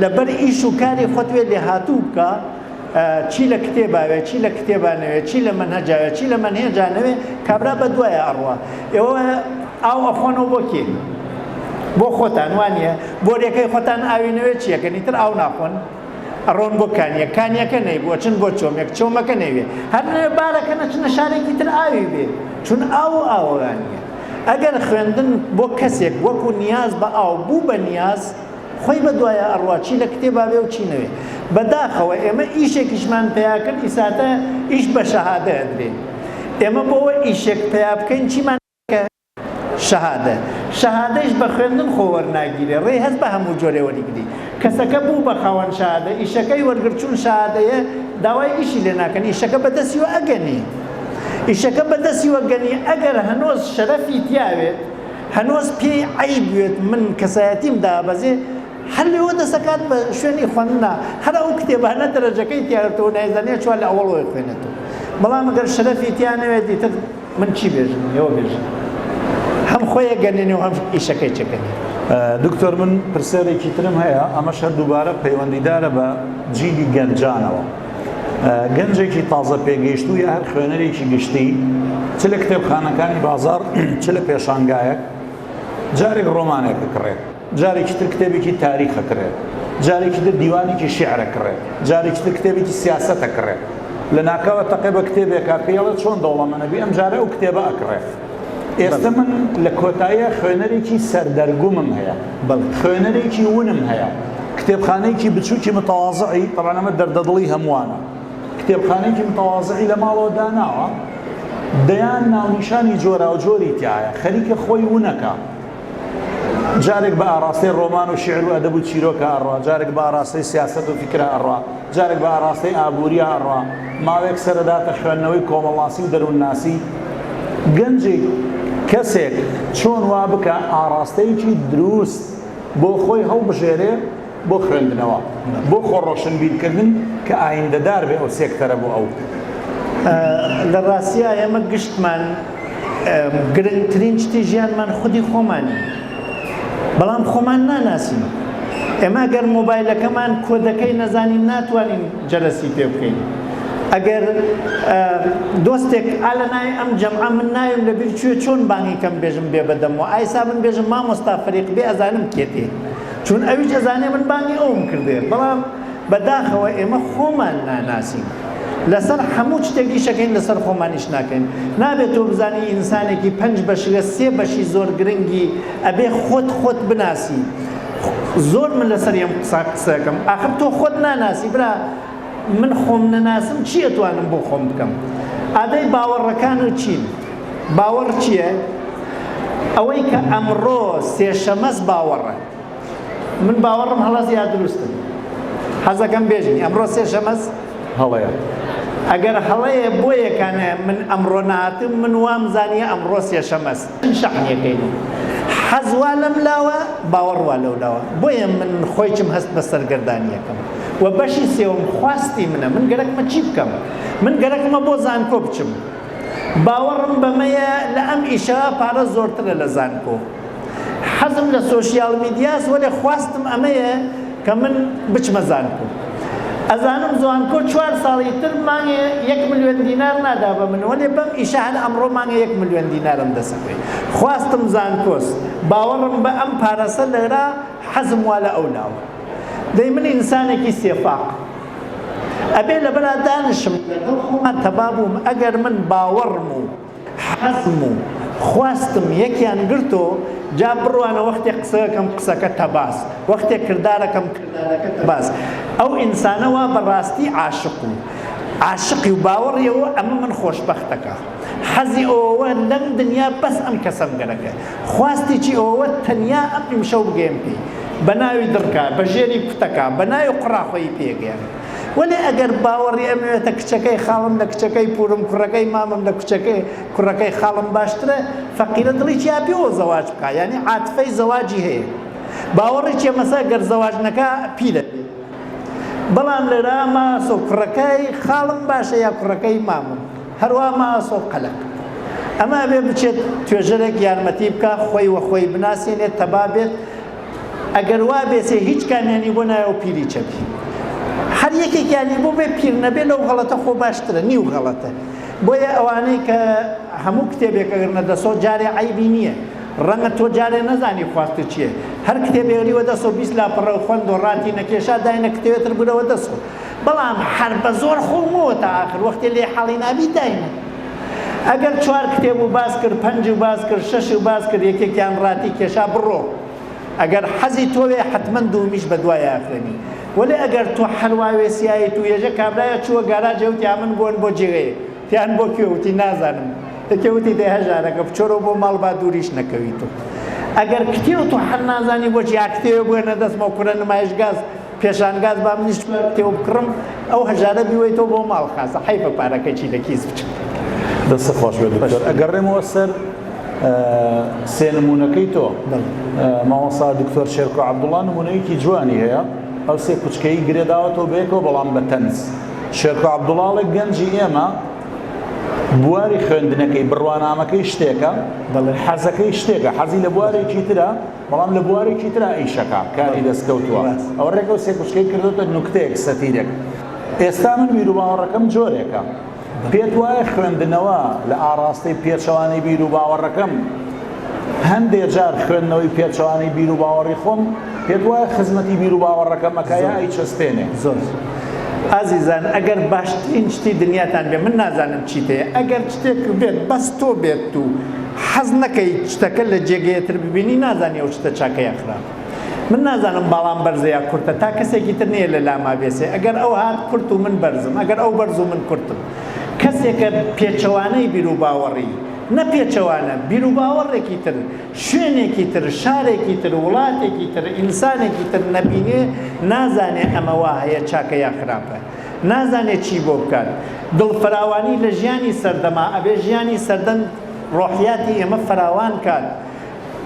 لەبەر ئیش و کاری خۆت وێ لێهاتوو بکە، چی لە کتێبا وێ، چی لە کتێبا نەوێ، چی لە مەنهەجا وێ، چی لە مەنهێجا نەوێ، کابرا بە دوایە ئەڕوا. ئێوە ئاو ئەخۆنەوە بۆ کێ؟ بۆ خۆتان، وا نییە؟ بۆریەکەی خۆتان ئاوی نەوێ چی ئەکەن؟ ئیتر ئاو ناخۆن، ئەڕۆن بۆ کانییەک، کانییەکە نەیبوو ئەچن بۆ چۆمێک، چۆمەکە نەیوێ، هەر نەوێ بار ئەکەن ئەچنە شارێکی تر ئاوی بێ، چون ئاو و ئاوەوانییە. ئەگەر خوێندن بۆ کەسێک وەکوو نیاز بە ئاو بوو بە نیاز، خۆی بە دوایە ئەڕوا چی لە کتێبا بێ و چی نەوێ بەداخەوە ئێمە ئیشێکیشمان پیا کرد ئیساتە ئیش بە شەهادە ئەدرێ ئێمە بۆوە ئیشێک پیا بکەین چیمان کە شەهادە شەهادەیش بە خوێندن خۆ وەرناگیرێ ڕێ هەست بە هەموو جۆرێ وەریگری کەسەکە بوو بە خاوەن شەهادە ئیشەکەی وەرگر چون شەهادەیە داوای ئیشی لێ ناکەن ئیشەکە بەدەستی و ئەگەنی ئیشەکە بەدەستی وەگەنی ئەگەر هەنۆز شەرەفی تیاوێت هەنوز پێی عەیب وێت من کەسایەتیم دابەزێ هەر لێوە دەسەکات بە شوێنی خوەندنا هەر ئەو کتێبانە دەرەجەکەی تیارەتەوە نایزانێ چوار لە ئەوەڵ وەی خوێنێتەوە بەڵام گەر شەرەفی تیا نەوێت دیتر من چی بێژم ئێوە بێژن هەم خۆیە گەنێنێ و هەم ئیشەکەی چەکەنێ دکتۆر من پرسیارێکی ترم هەیە ئەمەش هەر دووبارە پەیوەندیدارە بە جیلی گەنجانەوە. گەنجێکی تازە پێگەیشتوو یا هەر خوێنەرێکی گشتی چ لە کتێبخانەکانی بازار چ لە پێشانگایەک جارێک ڕۆمانێک بکڕێت جارێکی تر کتێبێکی تاریخە کرێت جارێکی تر دیوانێکی شعرە کڕێت جارێکی تر کتێبێکی سیاسەتە کڕێت لە ناکاوە تەقێ بە کتێبێکا پێڵە چۆن دەوڵەمەنەبی ئەم جارە ئەو کتێبە ئەکڕێت ئێستە من لە کۆتاییا خوێنەرێکی سەردەرگومم هەیە، خوێنەرێکی ونم هەیە، کتێبخانەیەکی بچووکی متەوازعی، تەبعەن ئەمە دەردەدڵی هەمووانە، کتێبخانەیەکی متەوازعی لە ماڵەوە داناوە، دەیان ناونیشانی جۆراوجۆری تیایە، خەریکە خۆی ونەکا. جارێک بە ئاڕاستەی ڕۆمان و شیعر و ئەدەب و چیرۆکە ئەڕا، جارێک بە ئاڕاستەی سیاسەت و فیکرە ئەڕا، جارێک بە ئاڕاستەی ئابوورییە ئەڕا، ماوەیەک سەرئەداتە خوێندنەوەی کۆمەڵناسی و دەروونناسی. گەنجێک، کەسێک چۆن وا بکا ئاڕاستەیەکی درووست بۆ خۆی هەڵبژێرێ، بۆ خوێندنەوە بۆ خۆ ڕۆشنبیر کردن کە ئایندەدار بێ ئەو سێکتەرە بۆ ئەو. لە ڕاستیا ئێمە گشتمان گرنگترین شتی ژیانمان خودی خۆمانین بەڵام خۆمان ناناسین ئێمە گەر مۆبایلەکەمان کۆدەکەی نەزانین ناتوانین جەرەسی پێ بکەین ئەگەر دۆستێک ئالە نای ئەم جەمع من ناویم لە بیر چێ چۆن بانگی کەم بێژم بێ بەدەمەوە ئایسا من بێژم مامۆستا فەریق بێ ئەزانم کێتی چون ئەویش ئەزانێ من بانگی ئەوم کردێ بەڵام بە داخەوە ئێمە خۆمان ناناسین لەسەر حەموو چتێک ئیشەکەین لەسەر خۆمانیش ناکەین نابێت تۆ بزانی ئینسانێکی پنج بەش لە سێ بەشی زۆر گرنگی ئەبێ خۆت خۆت بناسی زۆر من لەسەر یەم قسە قسەکەم ئاخر تۆ خۆت ناناسی برا من خۆم نەناسم چی ئەتوانم بۆ خۆم بکەم ئادەی باوەڕەکان و چین باوەڕ چیە ئەوەی کە ئەمڕۆ سێشەمەس باوەڕە من باوەڕم هەڵەز یا دروستن حەزەکەم بێژین ئەمڕۆ سێشەمەس هەڵەیە ئەگەر هەڵەیە بۆ یەکانە من ئەمڕۆ ناتم من وام زانیە ئەمڕۆ سێشەمەس من شەحنیەکەی بووم حەز وا لەم لاوە باوەڕ وا لەو لاوە بۆیە من خۆیچم هەست بە سەرگەردانیەکەم و بەشی سێوم خواستی منە من گەرەکمە چی بکەم من گەرەکمە بۆ زانکۆ بچم باوەڕم بەمەیە لە ئەم ئیشە پارە زۆرترە لە زانکۆ حەزم لە سۆشیال میدیاس وەلێ خواستم ئەمەیە کە من بچمە زانکۆ ئەزانم زوانکۆ چوار ساڵی تر مانگێ یەک ملیۆن دینار نادا بە من وەلێ بەم ئیشە هەر ئەمڕۆ مانگێ یەک ملیۆن دینارم دەسەپێ خواستم زانکۆس باوەڕم بە ئەم پارەسە لەرا حەزم وا لە ئەو لاوە دەی من ئینسانێکی سێفاق ئەبێ لەبەرا دانشم لەگەڵ خۆمان تەبابووم ئەگەر من باوەڕم و حەزم و خواستم یەکیان گرتۆ جا بڕوانە وەختێ قسەکەم قسەکە تەباس وەختێ کردارەکەم کردارەکە تەباس ئەو ئینسانە وا بە ڕاستی عاشق و عاشقی و باوەڕیەوە ئەمە من خۆشبەختەکە حەزی ئەوەوە لەم دنیا بەس ئەم کەسەم گەرەکە خواستێکی ئەوەوە تەنیا ئەم ئیمشەو بگەم پێی بە ناوی دڕکە بە ژێری کوتەکە بە ناوی قوڕاخۆی پێگەیان وەلێ ئەگەر باوەڕی ئەمەوێتە کچەکەی خاڵم لە کچەکەی پوورم کوڕەکەی مامم لە کوچەکەی کوڕەکەی خاڵم باشترە فەقیرە دڵی چیا پێوە زەواج بکا یانی عاتفەی زەواجی هەیە باوەڕی چیە مەسە گەر زەواج نەکا پیرە بەڵام لێرا ماسۆ کوڕەکەی خاڵم باشە یا کوڕەکەی مامم هەروە ماسۆ قەلق ئەمە بێ بچێت توێژەرێک یارمەتی بکە خۆی وە خۆی بناسیێنێت تەبا بێت ئەگەر وا بێسێ هیچ کامیانی بۆ نایە و پیری چەپی هەر یەکێکیانی بۆ بێ پیر نەبێ لەو غەڵەتە خۆ باشترە نیو غەڵەتە بۆیە ئەوانەی کە هەموو کتێبێک ئەگرنە دەسەوە جارێ عیبی نییە ڕەنگە تۆ جارێ نەزانی خواستە چییە هەر کتێبێریوە دەسۆ بیست لاپەڕە و خوند و ڕاتی نەکێشا داینە کتێوێتر برەوە دەسۆ بەڵام هەر بە زۆر خۆمەوە تا ئاخر وەختێ لێ حاڵی نابی داینە ئەگەر چوار کتێب و باس کرد پەنج و باس کرد شەش و باس کرد یەکێکیان ڕاتی کێشا بڕۆ ئەگەر حەزی تۆوێ حتمما دوومیش بە دوایە خوێنی وەلێ ئەگەر تۆ حەلواوێ سیایت و یەژە کابرایە چووە گاراجێ وتی ئەمن بۆن بۆ جێێ تیان بۆ کوێ وتی نازانم یەکێ وتی دێ هەژارەکە بچۆرەوە بۆ ماڵ با دووریش نەکەویت و ئەگەر کتێوت و حەل نازانی بۆ جیاکتێوە بۆێنە دەستمەوە کورە نمایش گاز پێشانگاز با منیش تێو بکڕم ئەو هەژارە بیوەیتەوە بۆ ماڵ خازە حیفە پارەکە چی لە کیس بچێت دەست خۆش بێت دکتۆر ئەگەڕێمەوە سەر سێ نمونونەکەی تۆ مامۆسا دکتۆر شێرکۆ عبدوڵا نمونەیەکی جوانی هەیە ئەو سێ کوچکەی گرێداوەتەوە بێکەوە بەڵام بە تەنز شێرکۆ عبدوڵاڵێک گەنجی ئێمە بواری خوێندنەکەی بڕوانامەکەی شتێکە دەڵێ حەزەکەی شتێکە حەزی لە بوارێکی ترە بەڵام لە بوارێکی ترا ئیشەکە، کاری دەستکەوتووە، ئەو ڕێگە و سێکوچکەی کردۆتە نوکتەیەک، سەتیرێک. ئێستا من بیروباوەڕەکەم جۆرێکە. پێت وایە خوێندنەوە لە ئاڕاستەی پێچەوانەی بیروباوەڕەکەم، هەندێ جار خوێندنەوەی پێچەوانەی بیروباوەڕی خۆم، پێت وایە خزمەتی بیروباوەڕەکەم ئەکا یا ئەیچەسپێنێ؟ زۆر. ئازیزان، ئەگەر باشترین شتی دنیاتان بێ، من نازانم چیت هەیە، ئەگەر شتێکت بێت بەس تۆ بێت و، حەز نەکەی شتەکە لە جێگەیە تر ببینی نازانی ئەو شتە چاکە یا خراپە من نازانم باڵام بەرزە یا کورتە تا کەسێکی تر نیە لە لاما بێسێ ئەگەر ئەو هات کورت و من بەرزم ئەگەر ئەو بەرز و من کورتم کەسێکە پێچەوانەی بیروباوەڕی نە پێچەوانە بیروباوەڕێکی تر شوێنێکی تر شارێکی تر وڵاتێکی تر ئینسانێکی تر نەبینێ نازانێ ئەمە وا هەیە چاکە یا خراپە نازانێ چی بۆ بکات دڵ فراوانی لە ژیانی سەردەما ئەبێ ژیانی سەردەم ڕۆحیاتی ئێمە فراوان کات،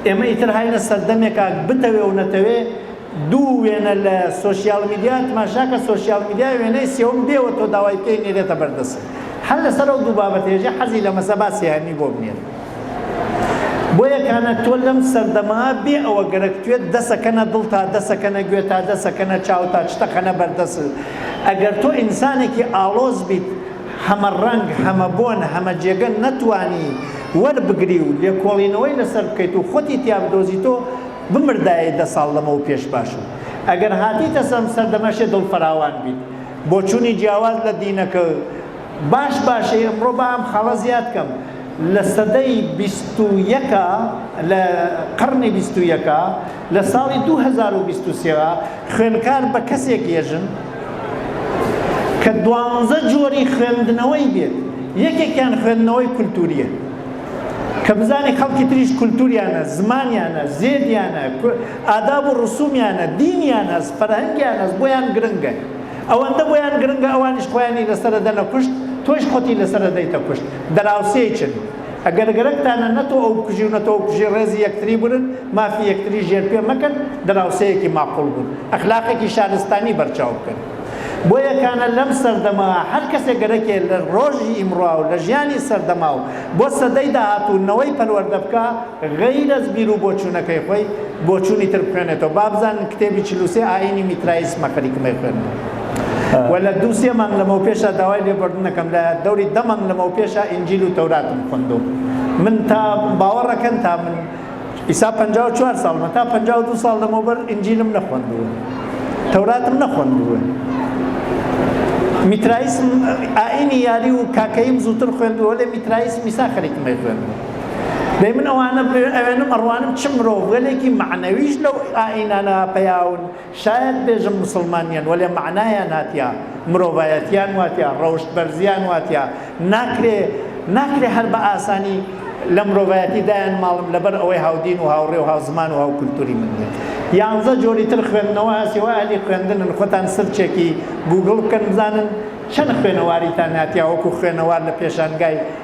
ئێمە ئیتر هاینە سەردەمێکا بتەوێ و نەتەوێ دوو وێنە لە سۆشیال میدیا تماشاکە سۆشیال میدیا وێنەی سێوم دێوە تۆ داوای پێی نێرێتە بەردەست هەر لەسەر ئەو دوو بابەت هێژێ حەزی لە مەسە با سێهەمی بۆ بنێر بۆیە کانە تۆ لەم سەردەما بێ ئەوە گەرەک توێت دەسەکەنە دڵ تا دەسەکەنە گوێ تا دەسەکەنە چاو تا چتەخەنە بەردەست ئەگەر تۆ ئینسانێکی ئاڵۆز بیت هەمە ڕەنگ، هەمە بۆن، هەمە جێگە نەتوانی وەربگری و لێکۆڵینەوەی لەسەر بکەیت و خۆتی تیا بدۆزی تۆ بمردایەی دە ساڵ لەمەو پێش باشبوو ئەگەر هاتیتە سەم سەردەمەشێ دڵ فراوان بیت بۆچونی جیاواز لە دینەکە باش باشەی ئەمڕۆ با ئەم خاڵە زیاد کەم لە سەدەی بیست و یەکا لە قڕنی بیست و یەکا لە ساڵی دوو هەزار و بیست و سێ وە خوێندکار بە کەسێک یەژن کە دوانزە جۆری خوێندنەوەی بێت یەکێکیان خوێندنەوەی کولتوریە کە بزانی خەڵکی تریش کولتوریانە زمانیانە زێدیانە ئاداب و ڕسومیانە دینیانە فەرهەنگیانە بۆیان گرنگە ئەوەندە بۆیان گرنگە ئەوانیش خۆیانی لەسەر دەنە کوشت تۆش خۆتی لەسەر دەیتە کوشت دراوسێکن ئەگەر گەرەکتانە نە تۆ ئەو بکوژی و نە تۆ ئەو بکوژی ڕێزی یەکتری برن، مافی یەکتری ژێرپێ مەکەن، دراوسێیەکی ماقوڵ بن، ئەخلاقێکی شارستانی بەرچاو بکەن. بۆیە کانە لەم سەردەمە هەر کەسێ گەرەکێ لە ڕۆژی ئیمڕا و لە ژیانی سەردەما و بۆ سەدەی داهاتوو نەوەی پەروەردە بکا، غەیر ئەز بیرو بۆچوونەکەی خۆی بۆچوونی تر بخوێنێتەوە با بزانن کتێبی چل و سێ ئایینی میتراییسمە خەریکمەی خوێندن و لە دوو سێ مانگ لەمەوپێشە داوای لێبوردنەکەم لە دەوری دە مانگ لەمەوپێشە ئینجیل و تەوراتم خوندووە من تا باوەڕەکەن تا من ئیسا پەنجا و چوار ساڵمە تا پەنجا و دوو ساڵ لەمەوبەر ئینجیلم نەخوندووە تەوراتم نەخوندووە میترایسم ئاینی یاری و کاکەیم زووتر خوێندووە لێ میترایسم میسا خەریکمەی خوێندووە دەی من ئەوانە ئەوێنم ئەڕوانم چ مرۆڤگەلێکی معنەویش لەو ئائینانە پەیاون شاید بێژم مسلمانیان وەلێ معنایان هاتیا مرۆڤایەتیان واتیا ڕەوشت بەرزیان واتیا ناکرێ ناکرێ هەر بە ئاسانی لە مرۆڤایەتی دایان ماڵم لەبەر ئەوەی هاودین و هاوڕێ و هاوزمان و هاو کولتوری من بێت یانزە جۆری تر خوێندنەوە هەسیەوە ئەلی خوێندنن خۆتان سرچێکی گوگڵ بکەن بزانن چەند خوێنەواریتان هاتیا وەکو خوێنەوار لە پێشانگای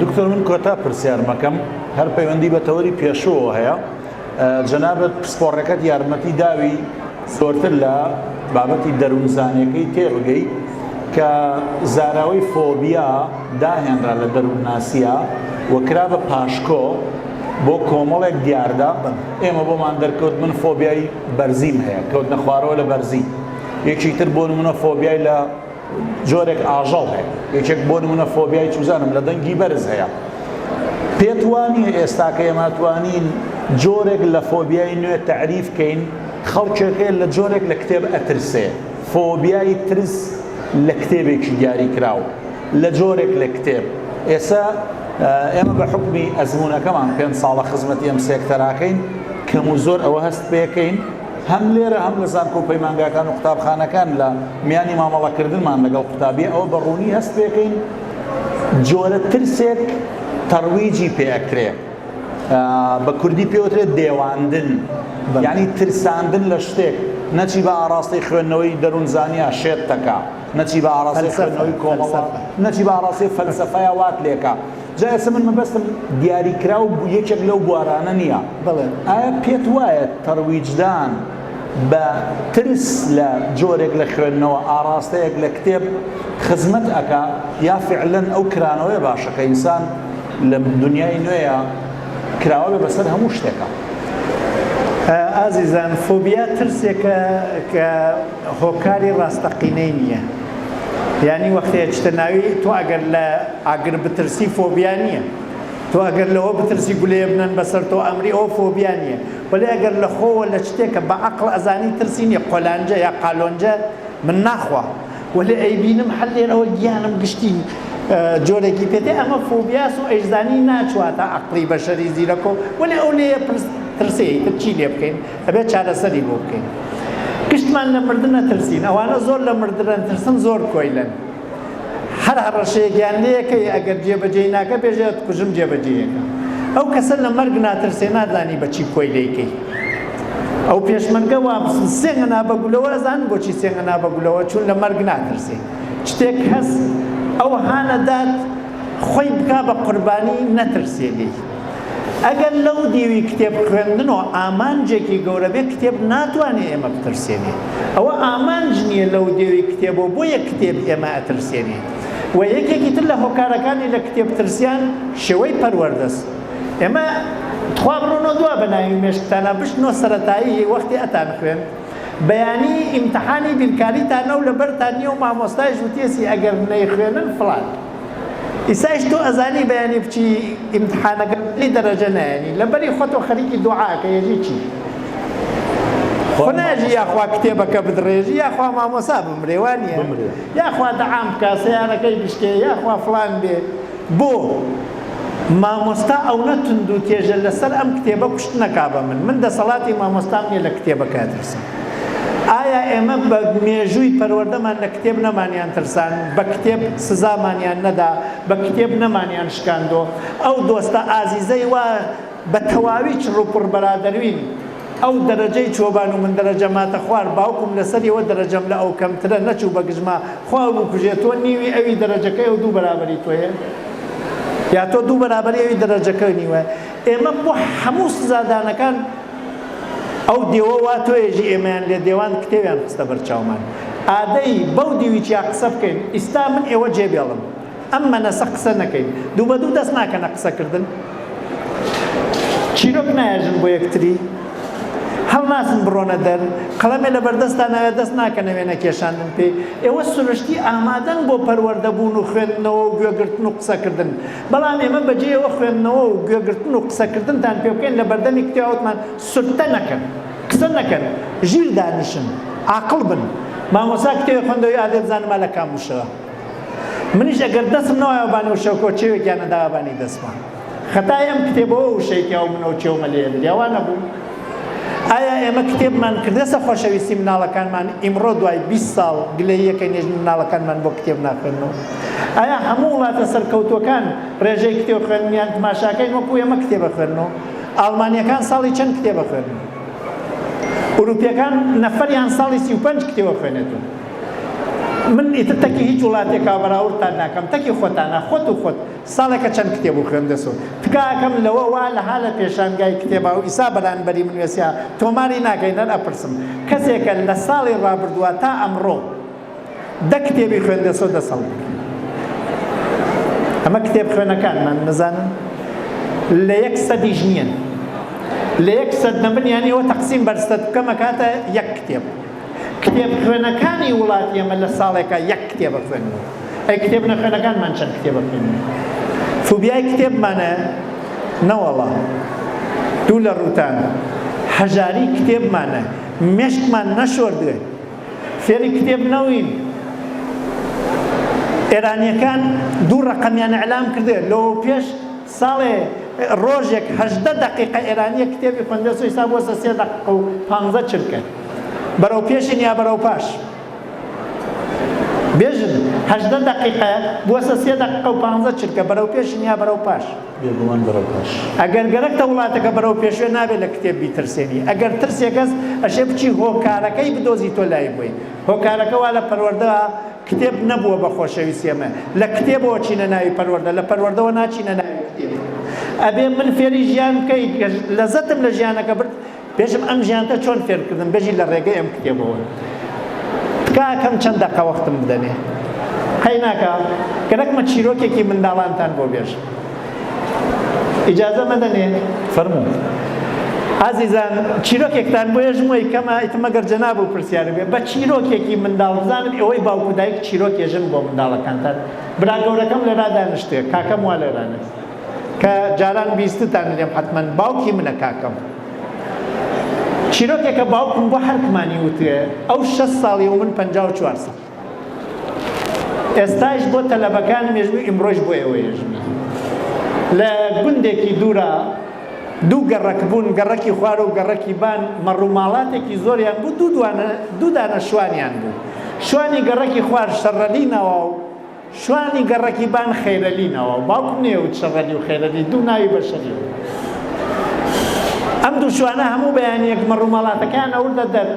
دکتۆر من کۆتا پرسیارمەکەم هەر پەیوەندی بە تەوەری پێشەوە هەیە جەنابەت پسپۆڕەکەت یارمەتی داوی زۆرتر لە بابەتی دەروونزانەکەی تێبگەی کە زاراوەی فۆبیا داهێنرا لە دەروونناسیە و کرا بە پاشکۆ بۆ کۆمەڵێک دیاردە ئێمە بۆمان دەرکەوت من فۆبیای بەرزیم هەیە کەوتنە خوارەوە لە بەرزی یەکی تر بۆ منە فۆبیای لە جۆرێک ئاژەڵ هەیە یەکێک بۆ نمونە فۆبیای چوزانم لە دەنگی بەرز هەیە پێت وانە ئێستاکە ئێماتوانین جۆرێک لە فۆبیای نوێ تعریف کەین خەڵکێک هەیە لە جۆرێک لە کتێب ئەترسێ فۆبیای ترس لە کتێبێکی دیاری کراوە لە جۆرێک لە کتێب ئێستا ئێمە بە حکمی ئەزمونونەکەمان پێ ساڵە خزمەتی ئەم سێکتەراکەین کەم و زۆر ئەوە هەست پێەکەین هەم لێرە هەم لە زانکۆ و پەیمانگاکان و قوتابخانەکان لە میانی مامەڵەکردنمان لەگەڵ قوتابی ئەوە بە ڕوونی هەست پێکەین جۆرە ترسێک تەڕویجی پێ ئەکرێ بە کوردی پێوترێت دێواندن یعنی ترساندن لە شتێک نەچی بە ئاراستەی خوێندنەوەی دەروونزانیا شێت تەکە نەچی بە ئاراستەی خوێندنەوەی کۆمەڵە نەچی بە ئاراستەی فەلسەفەیە وات لێکە جا ئێستا من مەبەستم دیاریکراو یەکێک لەو بوارانە نییە، بەڵێ. ئایا پێت وایە تەرویجدان بە ترس لە جۆرێک لە خوێندنەوە، ئاڕاستەیەک لە کتێب خزمەت ئەکا یا فیعلەن ئەو کرانەوەیە باشە کە ئینسان لە دونیای نوێیا کراوە بێ بەسەر هەموو شتێکا؟ ئازیزان فۆبیا ترسێکە کە هۆکاری ڕاستەقینەی نییە. یانی وەختەیە چتە ناوی تۆ ئەگەر لە ئاگر بترسی فۆبیا نییە تۆ ئەگەر لەوە بترسی گولێ بنەن بەسەر تۆ ئەمری ئەو فۆبیا نییە وەلی ئەگەر لە خۆوە لە شتێکە بە عقل ئەزانی ترسی نیە قۆلانجە یا قالۆنجە من ناخوا وەلی ئەیبینم هەر لێرەوە گیانم گشتی جۆرێکی پێتێ ئەمە فۆبیاس و ئەیزانی ناچواتە عقلی بەشەری زیرەکۆ وەلی ئەو لێ پرس ترسێ تر چی لێ بکەین ئەبێت چارەسەری بۆ بکەین گشتمان لە مردن نەترسین ئەوانە زۆر لە مردن ترسن زۆر کۆیلن هەر هەڕەشەیەکیان لەکەی ئەگەر جێبەجێی ناکە بێژێت کوژم جێبەجێیەکە ئەو کەسە لە مەرگ ناترسێ نازانی بەچی کۆی لەیکەی ئەو پێشمەرگە وا سێنگە نابەگولەوە ئەزان بۆچی سێنگە نابەگولەوە چون لە مەرگ ناترسێ شتێک هەست ئەو هانەدات خۆی بکا بە قوربانی نەترسێنی ئەگەر لەو دیوی کتێب خوێندنۆ ئامانجێکی گەورە بێ کتێب ناتوانێ ئێمە بترسێنێ ئەوە ئامانج نییە لەو دێوی کتێبۆ بۆیە کتێب ئێمە ئەترسێنێ و یەکێکی تر لە هۆکارەکانی لە کتێب ترسیان شێوەی پەروەردەس ئێمە تخوا بڕۆنەوە دوا بە ناوی مێشکتانە بشتنۆ سەتایی وەختی ئەتان خوێن بەیانی ئیمتحانی بیرکاریتانە و لەبەرتان نیە و مامۆستایش وتێسی ئەگەر نەیخوێنن فڵان ئیسایش تۆ ئەزانی بەیانی بچی ئیمتحانەکە بلی دەرەجە نایەنی لەبەری خۆتۆ خەریکی دوعاکە یەژی چی خۆ ناژی یاخوا کتێبەکە بدڕێژی یاخوا مامۆسا بمرێ وانە یاخوا دەعام بکە سیارەکەی بشکێ یاخوا فلان بێ بۆ مامۆستا ئەونە تند و تێژە لەسەر ئەم کتێبە کوشتنەکا بە من من دەسەڵاتی مامۆستام نیە لە کتێبەکە ترسم ئایا ئێمە بە مێژووی پەروەردەمان لە کتێب نەمانیان ترساند، بە کتێب سزامانیان نەدا، بە کتێب نەمانیان شکاندۆ؟ ئەو دۆستە ئازیزەی وا بە تەواوی چڕوپڕ بەرادەروین، ئەو دەرەجەی چۆبان و من دەرەجە ماتەخوار، باوکم لە سەری ئەوە دەرەجەم لە ئەو کەمترە، نەچوو بە گژما، خوا بکوژێ، تۆ نیوی ئەوی دەرەجەکەی ئەو دوو بەرابەری تۆیە؟ یا تۆ دوو بەرابەری ئەوی دەرەجەکەی نیوە؟ ئێمە بۆ هەموو سزادانەکان، ئەو دێوە وا تۆێژی ئێمەیان لێ دێوان کتێویان خستە بەر چاومان ئادەی بەو دیوی چیا قسە بکەین ئیستا من ئێوە جێ بێڵم ئەم مەنەسە قسە نەکەین دوو بە دوو دەست ناکەنە قسە کردن چیرۆک نایەژن بۆ یەکتری هەڵناسن بڕۆنە دەر قەڵەمێ لە بەردەستان ناوێت دەست ناکەنە وێنە کێشاندن پێی ئێوە سروشتی ئامادەن بۆ پەروەردەبوون و خوێندنەوە و گوێگرتن و قسەکردن بەڵام ئێمە بەجێیەوە خوێندنەوە و گوێگرتن و قسەکردنتان پێ بکەین لە بەردەمی کتێبا وتمان سوکتە نەکەن، قسە نەکەن، ژیر دانیشن، عاقڵ بن. مامۆستا کتێبێ خوێندەوەی ئادێ بزانما لە کام وشەوە. منیش ئەگەر دەستم نەوایەوە بانی وشەوکەوە چێوێکیان نەداوە بانی دەستما. خەتای ئەم کتێبەوە وشەیەکیاو منەو چێومە لێ ئەدریا وا نەبوو؟ ئایا ئێمە کتێبمان کردەسە خۆشەویستی مناڵەکانمان ئیمڕۆ دوای بیست ساڵ گلەییەکەی نێژن مناڵەکانمان بۆ کتێب ناخوێننەوە ئایا هەموو وڵاتە سەرکەوتووەکان ڕێژەی کتێب خوێنیان تماشاکەین وەکو ئێمە کتێبە خوێنەوە ئاڵمانیەکان ساڵی چەند کتێبە خوێن ئوروپیەکان نەفەریان ساڵی سی و پەنج کتێوە خوێنێتون من ئیتر تەکی هیچ وڵاتێکا بەراوردتان ناکەم تەکی خۆتانە خۆت و خۆت ساڵێکە چەند کتێب و خوێندە سوود تکایەکەم لەوە وا لها لە پێشانگای کتێبا و ئیسا بەرانبەری من وێسیا تۆماری ناکەین هەر ئەپرسم کەسێکە لە ساڵی ڕابردوە تا ئەمڕۆ دە کتێبی خوێندە سۆ دە سەڵ بکەن ئەمە کتێب خوێنەکانمان نەزانن لە یەک سەدیش نییەن لە یەک سەد نەبن یانی وە تەقسیم بەرستەت بکەمە کاتە یەک کتێب کتێبخوێنەکانی وڵاتی ئێمە لە ساڵێکا یەک کتێب ئەخوێننەوە، ئەی کتێب نەخوێنەکانمان چەند کتێب ئەخوێنن؟ فوبیای کتێبمانە؟ نەوەڵا، دوو لە ڕووتان، هەژاری کتێبمانە، مێشکمان نەشۆردوێ، فێری کتێب نەوین، ئێرانییەکان دوو ڕەقەمیان ئیعلام کردوێ، لەوەوپێش، ساڵێ ڕۆژێک هەژدە دەقیقە ئێرانییەک کتێبی خوێندبێت سۆ ئیستا بووەسە سێ دەقیقە و پانزە چرکە بەرەو پێشین یا بەرەو پاش بێژن هەژدە دەقیقە بووەسە سێ دەقیقە و پانزە چرکە بەرەو پێشین یا بەرەو پاش بێگومان بەرەو پاش ئەگەر گەرەکتە وڵاتەکە بەرەو پێشوێ نابێت لە کتێب بیترسێنی ئەگەر ترسێکەس ئەشێ بچی هۆکارەکەی بدۆزی تۆ لای بووی هۆکارەکە وا لە پەروەردە کتێب نەبووە بە خۆشەویستی ئێمە لە کتێبەوە چینە ناوی پەروەردە لە پەروەردەوە ناچینە ناوی کتێب ئەبێ من فێری ژیان بکەی لەزەتم لە ژیانەکە برد بێژم ئەم ژیانتە چۆن فێرکردن بێژی لە ڕێگەی ئەم کتێبەوە تکاکەم چەند دەقە وەختم بدەنێ قەیناکە گەرەکمە چیرۆکێکی منداڵانتان بۆ بێژم ئیجازە مەدەن ئێ. فەرموو. ئازیزان چیرۆکێکتان بۆ ێژمۆی کەمە ئیتر مەگەر جەناب و پرسیار بێ بە چیرۆکێکی منداڵ بزانم ئێوەی باوک و دایک چیرۆک ێژن بۆ منداڵەکانتان برا گەورەکەم لێرا دانیشتێ کاکەم وا لێرانێ کە جاران بیستتان لێم حەتمەن باوکی منە کاکەم چیرۆکێکە باوکم بۆ هەرکمانی وتێ ئەو شەست ساڵی و من پەنجا و چوار ساڵ ئێستایش بۆ تەلەبەکانم یەژنی و ئیمڕۆیش بۆ ئێوە یەژنی لە گوندێکی دوورا دوو گەڕەک بوون گەڕەکی خوار و گەڕەکی بان مەڕوماڵاتێکی زۆریان بوو دوو دوانە دوو دانە شوانیان بوو شوانی گەڕەکی خوار شەڕەلی ناوا و شوانی گەڕەکی بان خەیرەلینەوە، باوکم نێوت شەڕەلی و خەیرەلی دوو ناوی بەشەری بوون. ئەم دوو شوانە هەموو بەیانییەک مەڕ و ماڵاتەکەیان ئەوردە دەر.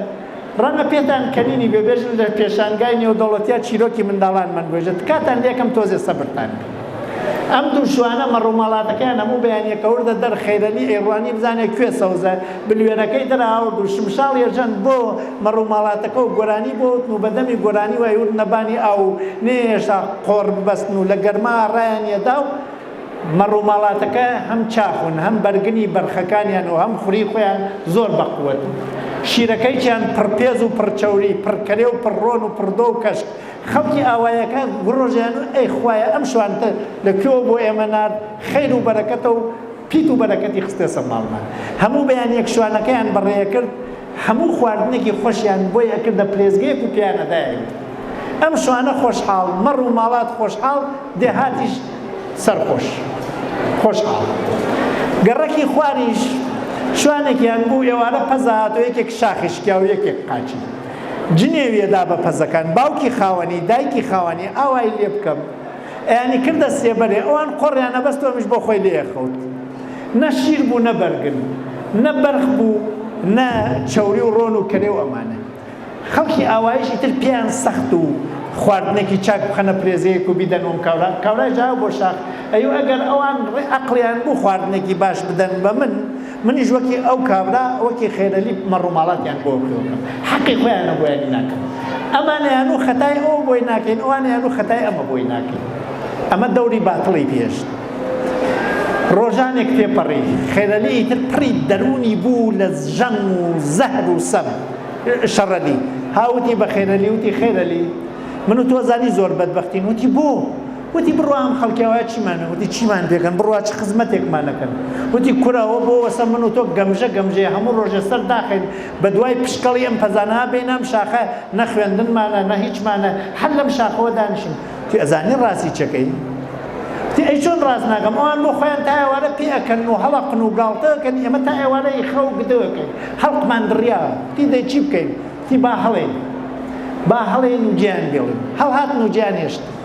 ڕەنگە پێتان کەنینی بێ، بێژن لە پێشانگای نێودەوڵەتیا چیرۆکی منداڵان مەنگوێژە، تکاتان لێکەم تۆزێ سەبرتان بێ. ئەم دوو شوانە مەڕ و ماڵاتەکەیان هەموو بەیانییەک ئەوردە دەر، خەیرەلی ئەیڕوانی بزانێ کوێ سەوزە، بلوێنەکەی دەرهاورد و شمشاڵی ئەژەند بۆ مەڕ و ماڵاتەکە و گۆرانی بۆ وتن و بە دەمی گۆرانیو ئەیوردنە بانی ئاو و نەیەهێشتا قۆڕ ببەستن و لە گەرما ڕایانیەدا و مەڕ و ماڵاتەکە هەم چاخون هەم بەرگنی بەرخەکانیان و هەم خوری خۆیان زۆر بە قوەت و شیرەکەیکیان پڕ پێز و پڕ چەوری پڕ کەرێ و پڕ ڕۆن و پڕ دۆ و کەشک خەڵکی ئاوایەکە گڕۆژیان و ئەی خوایە ئەم شوانتە لە کوێوە بۆ ئێمە نارد خەیر و بەرەکەتە و پیت و بەرەکەتی خستە سەر ماڵمان. هەموو بەیانیەک شوانەکەیان بەڕێ ئەکرد، هەموو خواردنێکی خۆشیان بۆی ئەکردە پلێسگەیەک و پێیان ئەدایەوی. ئەم شوانە خۆشحاڵ، مەڕ و ماڵات خۆشحاڵ، دێهاتیش سەرخۆش. خۆشحاڵ. گەڕەکی خواریش شوانێکیان بوو، ئێوارە پەزە هات و یەکێک شاخی شکیا و یەکێک قاچی. جنێوی ئەدا بە پەزەکان، باوکی خاوەنی، دایکی خاوەنی، ئاوای لێ بکەم. ئەیانی کردە سێبەرێ ئەوان قۆڕیانە بەس تۆمیش بۆ خۆی لێ ئەخەوت نە شیر بوو نە بەرگن نە بەرخ بوو نە چەوری و ڕۆن و کەرێ و ئەمانە خەڵکی ئاوایش ئیتر پێیان سەخت و خواردنێکی چاک بخەنە پرێزەیەک و بیدەن وەم کاورا کاورای جاو بۆ شاخ ئەیو ئەگەر ئەوان ڕێ ئەقڵیان بوو خواردنێکی باش بدەن بە من منیش وەکی ئەو کابرا وەکی خێرەلی مەڕ و ماڵاتیان بۆ کردم حەقی خۆیانە بۆیانی ناکەم ئەمانیان و خەتای ئەو بۆی ناکەین ئەوانیان و خەتای ئەمە بۆی ناکەین ئەمە دەوری باتڵی پێشت ڕۆژانێک پێپەڕی خێرەلی ئیتر پڕی دەروونی بوو لە ژەم و زەهر و سەم شەڕەلی هاوتی بە خێرەلی وتی خێرەلی من و تۆ زانی زۆر بەدبەختین وتی بۆ؟ وتی بڕوا ئەم خەڵکە وایە چیمان وتی چیمان پێکەن بڕوا چ خزمەتێکمان نەکەن وتی کورە ئەوە بۆ وەسە من و تۆ گەمژە گەمژەیە هەموو ڕۆژێ سەر داخەین بە دوای پشکەڵی ئەم پەزانە بێین ئەم شاخە نە خوێندنمانە نە هیچمانە هەر لەم شاخەوە دانیشین وتی ئەزانی ڕاستی چەکەی وتی ئەی چۆن ڕاست ناکەم ئەوان بۆ خۆیان تا ئێوارە پێ ئەکەن و هەڵەقن و گاڵتە ئەکەن ئێمە تا ئێوارە ئیخە و گدە ئەکەین هەڵقمان دڕیاوە وتی دەی چی بکەین وتی با هەڵێین با هەڵێین و گیان بێڵین هەڵهاتن و گیان هێشتن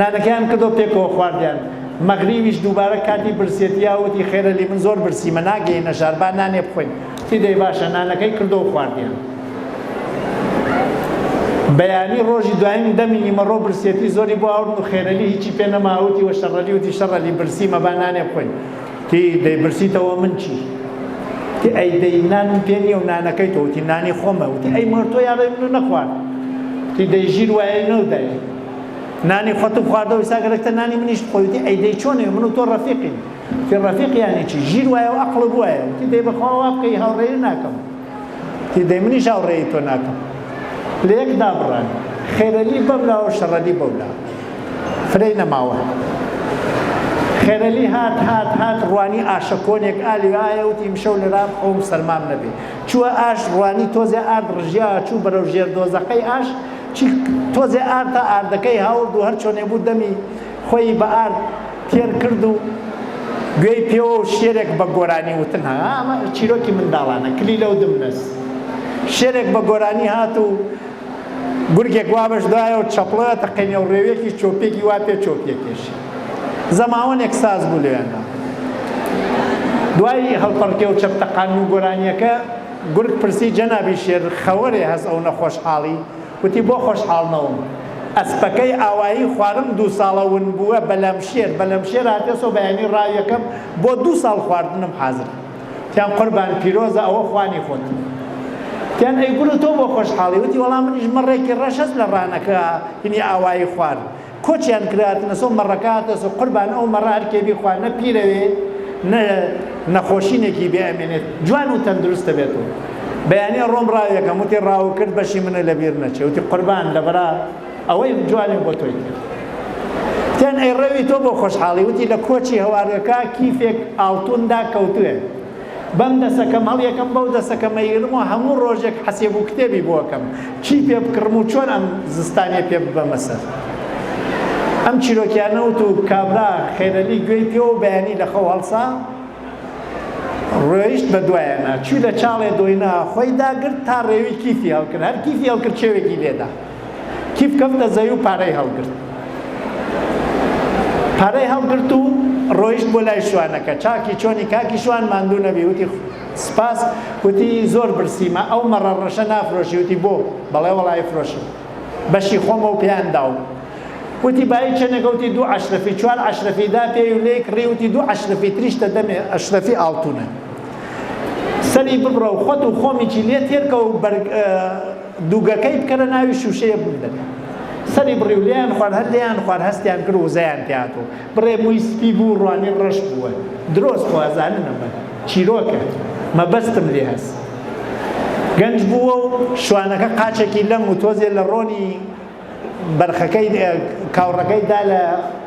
نانەکەیان کردو پێکەوە خواردیان. مەغریویش دووبارە کاتی برسیەتی ئەو وتی، خێرە لی من زۆر برسیمە ناگەینە شار با نانێ بخۆین. وتی، دەی باشە. نانەکەی کردو خواردیان. بەیانی ڕۆژی دوایین دەمی نیمەڕۆ برسیەتی زۆری بۆ ئاوردن و خێرەلی هیچی پێ نەما وتی، وە شەڕەلی وتی، شەڕەلی برسیمە با نانێ بخۆین. تی دەیپرسیتەوە من چی؟ تی ئەی دەی نان پێ نییە و نانەکەی تۆ تی نانی خۆمە و تی ئەی مۆر تۆ یاڕێ من و نەخوارد تی دەی ژیر وایە نەو دای نانی خۆتم خواردەوە ئیستا گەرەکتە نانی منیش بخۆیتی ئەی دەی چۆنێ من و تۆ ڕەفیقین تی ڕەفیق یانی چی ژیر وایە و ئەقڵ بوایە تی دەی بەخوا وا بکەی هاوڕێی ناکەم تی دەی منیش هاوڕێی تۆ ناکەم لە یەک دابڕان خێرەلی بەم لاوە شەڕەلی بەو لا فرەی نەماوە خێرەلی هات هات هات ڕوانی ئاشە کۆنێک ئالی ئایا وتی مشەو لەرام ئەوم سەرمام نەبێ چووە ئاش ڕوانی تۆزێ ئارد ڕژیا چوو بەرەو ژێر دۆزەقەی ئاش تۆزێ ئارتا ئاردەکەی هاورد و هەر چۆنێ بوو دەمی خۆی بە ئارد تێر کرد و گوێی پێوە و شێرێک بە گۆرانی وتن هات. ها ئەمە چیرۆکی منداڵانە، کلیلە و دمنەس. شێرێک بە گۆرانی هات و گورگێک وا بەش دایە و چەپڵەوە تەقێنێ و ڕێوێکی چۆپیەکی وا پێ چۆپیە کێشی. زەماوەنێک ساز بوو لەوێندا. دوای هەڵپەڕکێ و چەپ تەقاندن و گۆرانییەکە، گورگ پرسی جەنابی شێر، خەوەرێ هەس ئەونە خۆشحاڵی؟ وتی بۆ خۆشحاڵ نەوم ئەسپەکەی ئاوایی خوارم دوو ساڵە ون بووە بەلام شێر بەلەم شێر هاتێسۆ بەیانی ڕا یەکەم بۆ دوو ساڵ خواردنم حازرە تیان قوربان پیرۆزە ئەوە خوانی خۆت تیان ئەی گورو تۆ بۆ خۆشحاڵی وتی وەڵا منیش مەڕێکی ڕەشەس لە ڕانەکە هینی ئاوایی خوارد کۆچیان کراتنە سۆ مەڕەکە هاتە سۆ قوربان ئەو مەڕە هەر کێ بیخوا نە پیرەوێ نە نەخۆشینێکی بێ ئەمێنێت جوان و تەندروستە بێت و بەیانی ڕۆم ڕاوێکەم وتی ڕاو کرد بەشی منە لە بیر نەچێ وتی قوربان لەبەرا ئەوەی جوانی بۆ تۆی کرد تێن ئەی ڕەوی تۆ بۆ خۆشحاڵی وتی لە کۆچی هەوارەکە کیفێک ئاڵتوندا کەوتوێ بەم دەسەکەم هەڵیەکەم بەو دەسەکە مەیرم و هەموو ڕۆژێک حەسێب و کتێبی بۆکەم چی پێ بکڕم و چۆن ئەم زستانیە پێ ببەمە سەر ئەم چیرۆکیانە وت و کابرا خێرەلی گوێی پێ و بەیانی لە خەو هەڵسا ڕۆیشت بە دوایەنا چوی لە چاڵێ دۆینا خۆی داگرت تا ڕێوی کیفی هەڵکرد هەر کیفی هەڵکرد چێوێکی لێدا کیف کەوتە زەوی و پارەی هەڵگرت پارەی هەڵگرت و ڕۆیشت بۆ لای شوانەکە چاکی چۆنی کاکی شوان ماندوو نەبی وتی سپاس وتی زۆر برسیمە ئەو مەڕە ڕەشە نافرۆشی وتی بۆ بەڵێ وەڵی فرۆشم بەشی خۆمە و پێیان داوم وتی بایی چەنەکە وتی دوو عشرەفی چوار عشرەفی دا پێی و لێک ڕی وتی دوو عشرەفی تریشتە دەمێ ئەشرەفی ئاڵتونە سەری ببڕە و خۆت و خۆمیی لێ تێرکە و بەرگ دوگەکەی بکەرە ناوی شوشەیە بوون دەبێ سەری بڕی و لێیان خوار هەر لێیان خوار هەستیان کرد وزەیان تیاتۆ بڕێ مووی سپی بوو ڕوانی ڕەش بووە درۆست خوازانن ئەمە چیرۆکە مەبەستم لێ هەست گەنج بووە و شوانەکە قاچێکی لەم و تۆزێ لە ڕۆنی بەرخەکەی کاوڕەکەی دا لە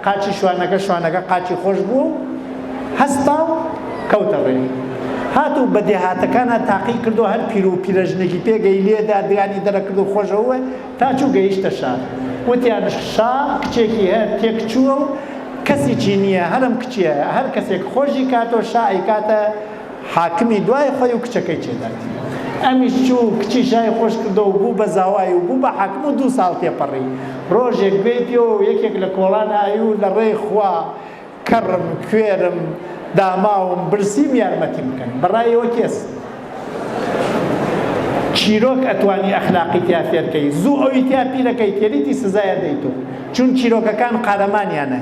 قاچی شوانەکە، شوانەکە قاچی خۆش بوو و هەستا و کەوتە ڕێ. هات و بە دێهاتەکانا تاقی کرد و هەر پیر و پیرەژنێکی پێگەی لێ دا، درانی دەرەکرد و خۆش ئەووە تا چوو گەیشتە شار. وتیان شا کچێکی هەیە تێک چووە و کەسیی نییە، هەرم کچییە، هەر کەسێک خۆشی کات و شا ئەیکاتە، حاکمی دوای خۆی و کچەکەی چێداتی. ئەمیش چوو و کچی شای خۆش کردەوە و بوو بە زاوای و بوو بە حاکم و دوو ساڵ تێپەڕی. ڕۆژێک گوێی پێوە و یەکێک لە کۆڵان ئای و لە ڕێی خوا کەڕم، کوێرم، داماوم، برسیم یارمەتیم بکەن. بە ڕای ئێوە کێ چیرۆک ئەتوانی ئەخلاقی تیا فێر کەی؟ زوو ئەوی تیا پیرەکەی تێریتی سزای ئەدەیتۆ چون چیرۆکەکان قارەمانیانە.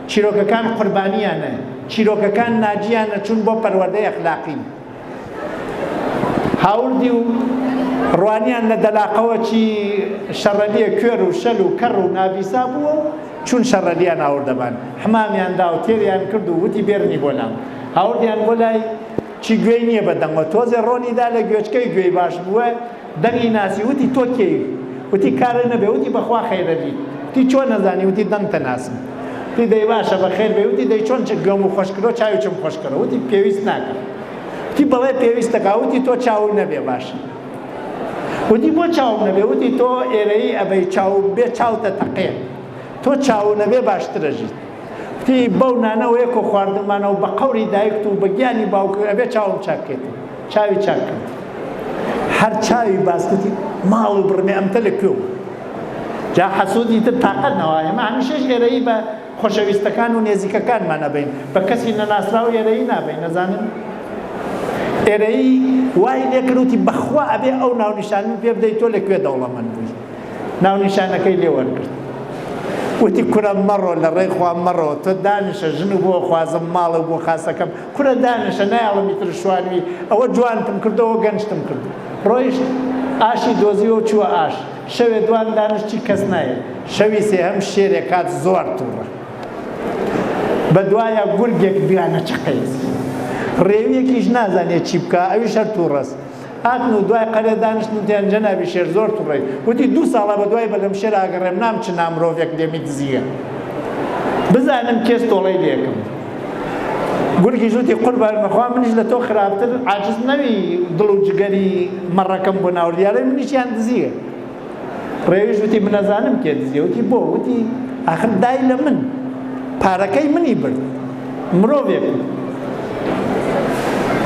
چیرۆکەکان قوربانیانە، چیرۆکەکان ناجیانە چون بۆ پەروەردەی ئەخلاقین. هاوردی و ڕوانیان لە دەلاقەوە چی شەڕەلیە کوێر و شەل و کەڕ و نابیسا بووە و چون شەڕەلیان هاوردە بان حمامیان دا و تێریان کرد و وتی بێرنی بۆ لام هاوردیان بۆ لای چی گوێی نیە بە دەنگۆ تۆزێ ڕۆنی دا لە گوێچکەی گوێی باش بووە دەنگی ناسی وتی تۆ کێیت وتی کارت نەبێ وتی بەخوا خەیرەلی وتی چۆن ئەزانی وتی دەنگتە ناسم وتی دەی باشە بەخێر بێی وتی دەی چۆن چ گوێمو خۆش کرۆ چاوی چم خۆش کرۆ وتی پێویست ناکە وتی بەڵێ پێویستە کا وتی تۆ چاوو نەبێ باشە وتی بۆ چاوم نەبێ وتی تۆ ئێرەیی ئەبەی چاو بێ چاوتە تەقێ تۆ چاوو نەبێ باشترە ژیت وتی بەو نانەوەیەکۆ خواردمانەوە بە قەوری دایکت و بە گیانی باوکت ئەبێ چاوم چاک کەیتەوە. چاوی چاک کرد هەر چاوی باس گوتی ماڵ و بڕمێ ئەمتە لە کوێ بوو جا حەسودی تر تاقەت نەوە ئێمە هەمیشەش ئێرەیی بە خۆشەویستەکان و نێزیکەکانمان نەبین بە کەسی نەناسراو ئێرەیی نابین نەزانن ئێرەیی وای لێکروتی بەخوا ئەبێ ئەو ناونیشانن پێ بدەیت تۆ لە کوێ دەوڵەمەند بووی ناونیشانەکەی لێ وەرگرت وتی کورە مەڕۆ لە ڕێی خوا مەڕۆ تۆ دانیشە ژن و بۆ خوازم ماڵە و بۆ خاسەکەم کورە دانیشە نایەڵم ئیتر شوانوی ئەوە جوانتم کردەوە گەنجتم کرد ڕۆیشت ئاشی دۆزیوە و چووە ئاش شەوێ دوان دانشت چی کەس نایەت شەوی سێهەم شێرێ کات زۆر توڕە بە دوایە گورگێک دویانە چەقێت ڕێویەکیش نازانێت چی بکا ئەویش هەر توڕەس هاتن و دوای قەرێ دانیشتن تێن جەنابی شێر زۆر توڕەی وتی دوو ساڵە بە دوای بەلەم شێر ئاگەڕێم نام چ نا مرۆڤێک دێمی دزییە بزانم کێس تۆڵەی لێکم گورگیش وتی قوربان بەخوا منیش لە تۆ خراپتر عاجز نەوی دڵ و جگەری مەڕەکەم بۆ ناوردیارە منیشیان دزییە ڕێویش وتی منەزانم کێ دزیە وتی بۆ وتی ئاخر دای لە من پارەکەی منی برد مرۆڤێک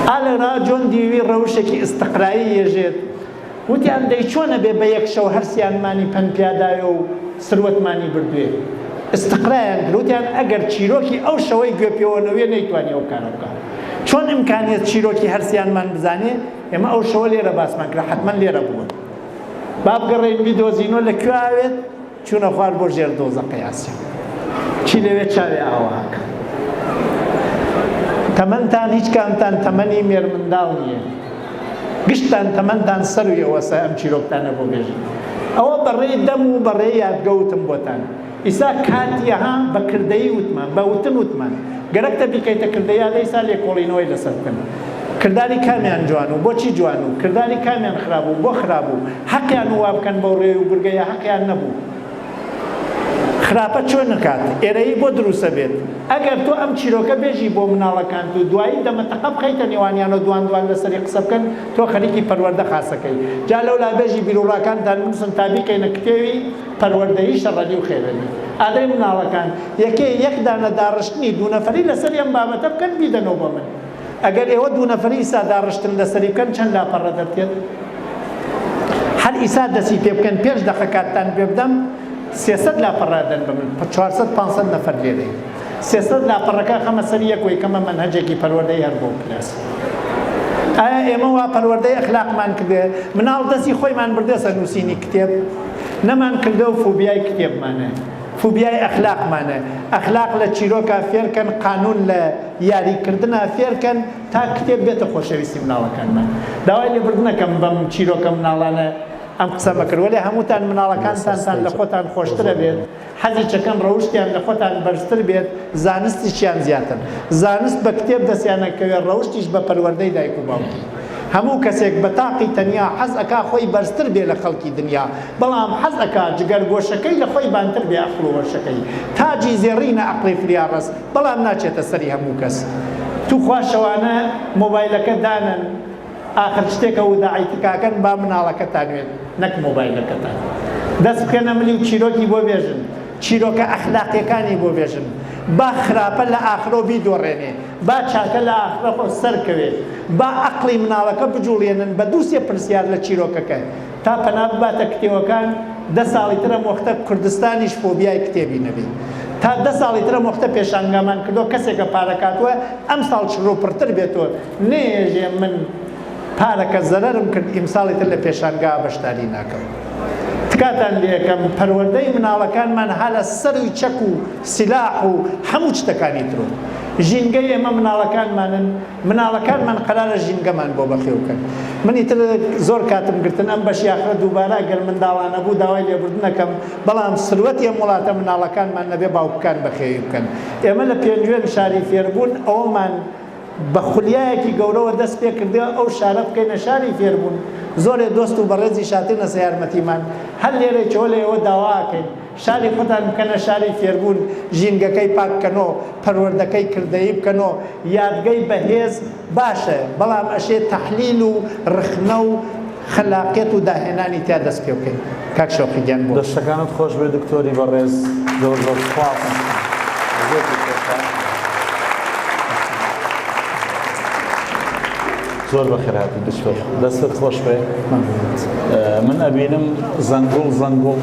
ئالێرا جۆن دیوی ڕەوشێکی ئستقرایی یەژێت وتیان دەی چۆنە بێ بە یەک شەو هەرسیانمانی پەن پیاداوێ و سروەتمانی بردوێ ئستقرایان گروتیان ئەگەر چیرۆکی ئەو شەوەی گوێ پێوەنەوێ نەیتوانی ئەو کارە بکە چۆن ئیمکانیت چیرۆکی هەرسیانمان بزانێ ئێمە ئەو شەوە لێرە باسمان کرا حتمما لێرە بوون با بگەڕێین بیدۆزینەوە لە کوێ ئاوێت چوونە خوار بۆ ژێر دۆزەقەی ئاسیا چی لەوێ چاوێ ئاواکە تەمەنتان هیچ کامتان تەمەنی مێرمنداڵ نییە گشتان تەمەنتان سەرویەوەسە ئەم چیرۆکتانە بۆ بێژن ئەوە بەڕێی دەم و بەڕێ یادگەوتم بۆتان ئیسا کاتی ها بە کردەیی وتمان، بە وتن وتمان. گەرەک تە بیکەیتە کردەیی ئادە ئیسا لێکۆڵینەوەی لەسەر بکەن. کرداری کامیان جوان و بۆ چی جوان و کرداری کامیان خراپ و بۆ خراپ و هەقیان و وا بکەن بەو رێ و برگە یا هەقیان نەبوو خراپە چۆن نکات ئێرەیی بۆ دروسە بێت. ئەگەر تۆ ئەم چیرۆکە بێژی بۆ مناڵەکانت و دوایی دەمە تەقە بخەیتە نێوانیان و دوان دوان لەسەری قسە بکەن تۆ خەریکی پەروەردە خاسەکەی. جا لەولا بێژی بیروڕاکانتان بنوسن تا بیکەینە کتێوی. پەروەردەیی شەڕەلی و خێرەلی ئادەی مناڵەکان یەکێ یەک دانە داڕشتنی دوو نەفەری لەسەری ئەم بابەتە بکەن بیدەنەوە بۆ من ئەگەر ئێوە دوو نەفەری ئیستا داڕشتن لەسەری بکەن چەند لاپەڕە دەرتێت هەر ئیسا دەسی پێ بکەن پێش دەقە کاتتان پێ بدەم سێسەد لاپەڕە دەن بە من چوارسەد پانسەد نەفەر لێدەین سێسەد لاپەڕەکە خەمە سەر یەک وەی کەمە مەنهەجێکی پەروەردەی هەر بۆ پلاس ئایا ئێمە وا پەروەردەی ئەخلاقمان کردێ مناڵ دەستی خۆیمان بردێسە نووسینی کتێب نەمان کردەوە فوبیای کتێبمانە فوبیای ئەخلاقمانە ئەخلاق لە چیرۆکا فێرکەن قانون لە یاری کردنا فێرکەن تا کتێب بێتە خۆشەویستی مناڵەکانمان داوای لێبردنەکەم بەم چیرۆکە مناڵانە ئەم قسەمە کرد وەلێ هەمووتان مناڵەکانتانتان لە خۆتان خۆشترە بێت. حەزی چەکەن ڕەوشتیان لە خۆتان بەرزتر بێت زانستیشیان زیاتر زانست بە کتێب دەستیان ئەکەوێت ڕەوشتیش بە پەروەردەی دایک و باوکی هەموو کەسێک بە تاقی تەنیا حەز ئەکا خۆی بەرزتر بێ لە خەڵکی دنیا بەڵام حەز ئەکا جگەر گۆشەکەی لە خۆی بانتر بێ ئەقڵ و هۆشەکەی تاجی زێڕینە ئەقڵی فریا ڕەس بەڵام ناچێتە سەری هەموو کەس توخوا شەوانە مۆبایلەکە دانەن ئاخر شتێکە وداعی تکاکەن با مناڵەکەتان وێت نەک مۆبایلەکەتان دەست بکەنە ملی و چیرۆکی بۆ بێژن چیرۆکە ئەخلاقیەکانی بۆ بێژن با خراپە لە ئاخرۆ بیدۆڕێنێ با چاکە لە ئاخرە خۆ سەر کەوێ با ئەقڵی مناڵەکە بجوڵێنن بە دوو سێ پرسیار لە چیرۆکەکە تا پەنا بباتە کتێوەکان دە ساڵی ترە مۆختە کوردستانیش فۆبیای کتێبی نەبێ تا دە ساڵی ترە مۆختە پێشانگامان کردۆ کەسێکە پارەکاتوە ئەم ساڵ چڕو پڕتر بێتۆ نەیەژێ من پارەکە زەرەرم کرد ئیمساڵی تر لە پێشانگا بەشداری ناکەم تکاتان لێکەم پەروەردەی مناڵەکانمان هەلە سەروی چەک و سلاح و هەموو شتەکانی ترۆ ژینگە ئێمە مناڵەکانمانن مناڵەکانمان قەرارە ژینگەمان بۆ بەخێوکەن منی تر زۆر کاتم گرتن ئەم بەش یاخرە دووبارە گەر منداڵانە بوو داوای لێبوردنەکەم بەڵام سروەت ئێم وڵاتە مناڵەکانمان نەبێ باوکەکان بەخێوی بکەن ئێمە لە پێنجوێن شاری فێربوون ئەومان بە خولیایەکی گەورەوە دەست پێ کردوە ئەو شارە بکەینە شاری فێربوون، زۆرێ دۆست و بەڕێزیش هاتونەسە یارمەتیمان، هەر لێرەیچەوە لە ئێوە داوا ئەکەین شاری خۆتان بکەنە شاری فێربوون، ژینگەکەی پاک بکەنۆ، پەروەردەکەی کردەیی بکەنۆ، یادگەی بەهێز باشە بەڵام ئەشێ تەحلیل و ڕخنە و. خەلاقیەت و داهێنانی تیا دەست پێ بکەین کاک شەوقی گیان بۆ دەستەکانت خۆش بێ دکتۆری بەڕێز زۆر زۆر سپاس. زۆر بەخێرهاتی دکتۆر دەستت خۆش بێ من ئەبینم زەنگوڵ زەنگوڵ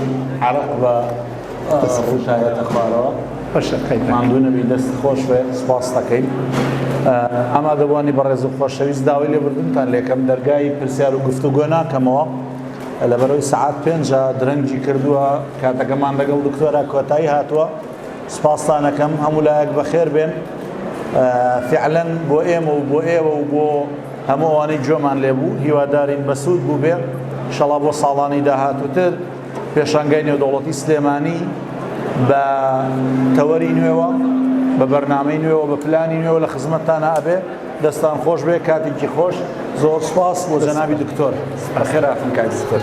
عرق بە ڕووتایەتە خوارەوە ماندوو نەبی دەست خۆش بێ سپاس دەکەین ئامادەبووانی بەڕێز و خۆشەویست داوای لێبردنتان لێکەم دەرگای پرسیار و گفتوگۆ ناکەمەوە لە بەرەوەی سعات پێنجە درەنگی کردووە کاتەکەمان لەگەڵ دکتۆرا کۆتایی هاتووە سپاستانەکەم هەموو لایەک بەخێر بێن فعلەن بۆ ئێمە و بۆ ئێوە و بۆ هەمووانی جۆمان لێبوو هیوادارین بەسوود بوو بێ شەڵا بۆ ساڵانی داهاتووتر پێشانگای نێودەوڵەتی سلێمانی بە تەوەری نوێوە بە بەرنامەی نوێوە بە پلانی نوێوە لە خزمەتتانە ئەبێ دەستان خۆش بێ کاتێکی خۆش زۆر سپاس بۆ جەنابی دکتۆر خێراتن کاک دکتۆر سپاس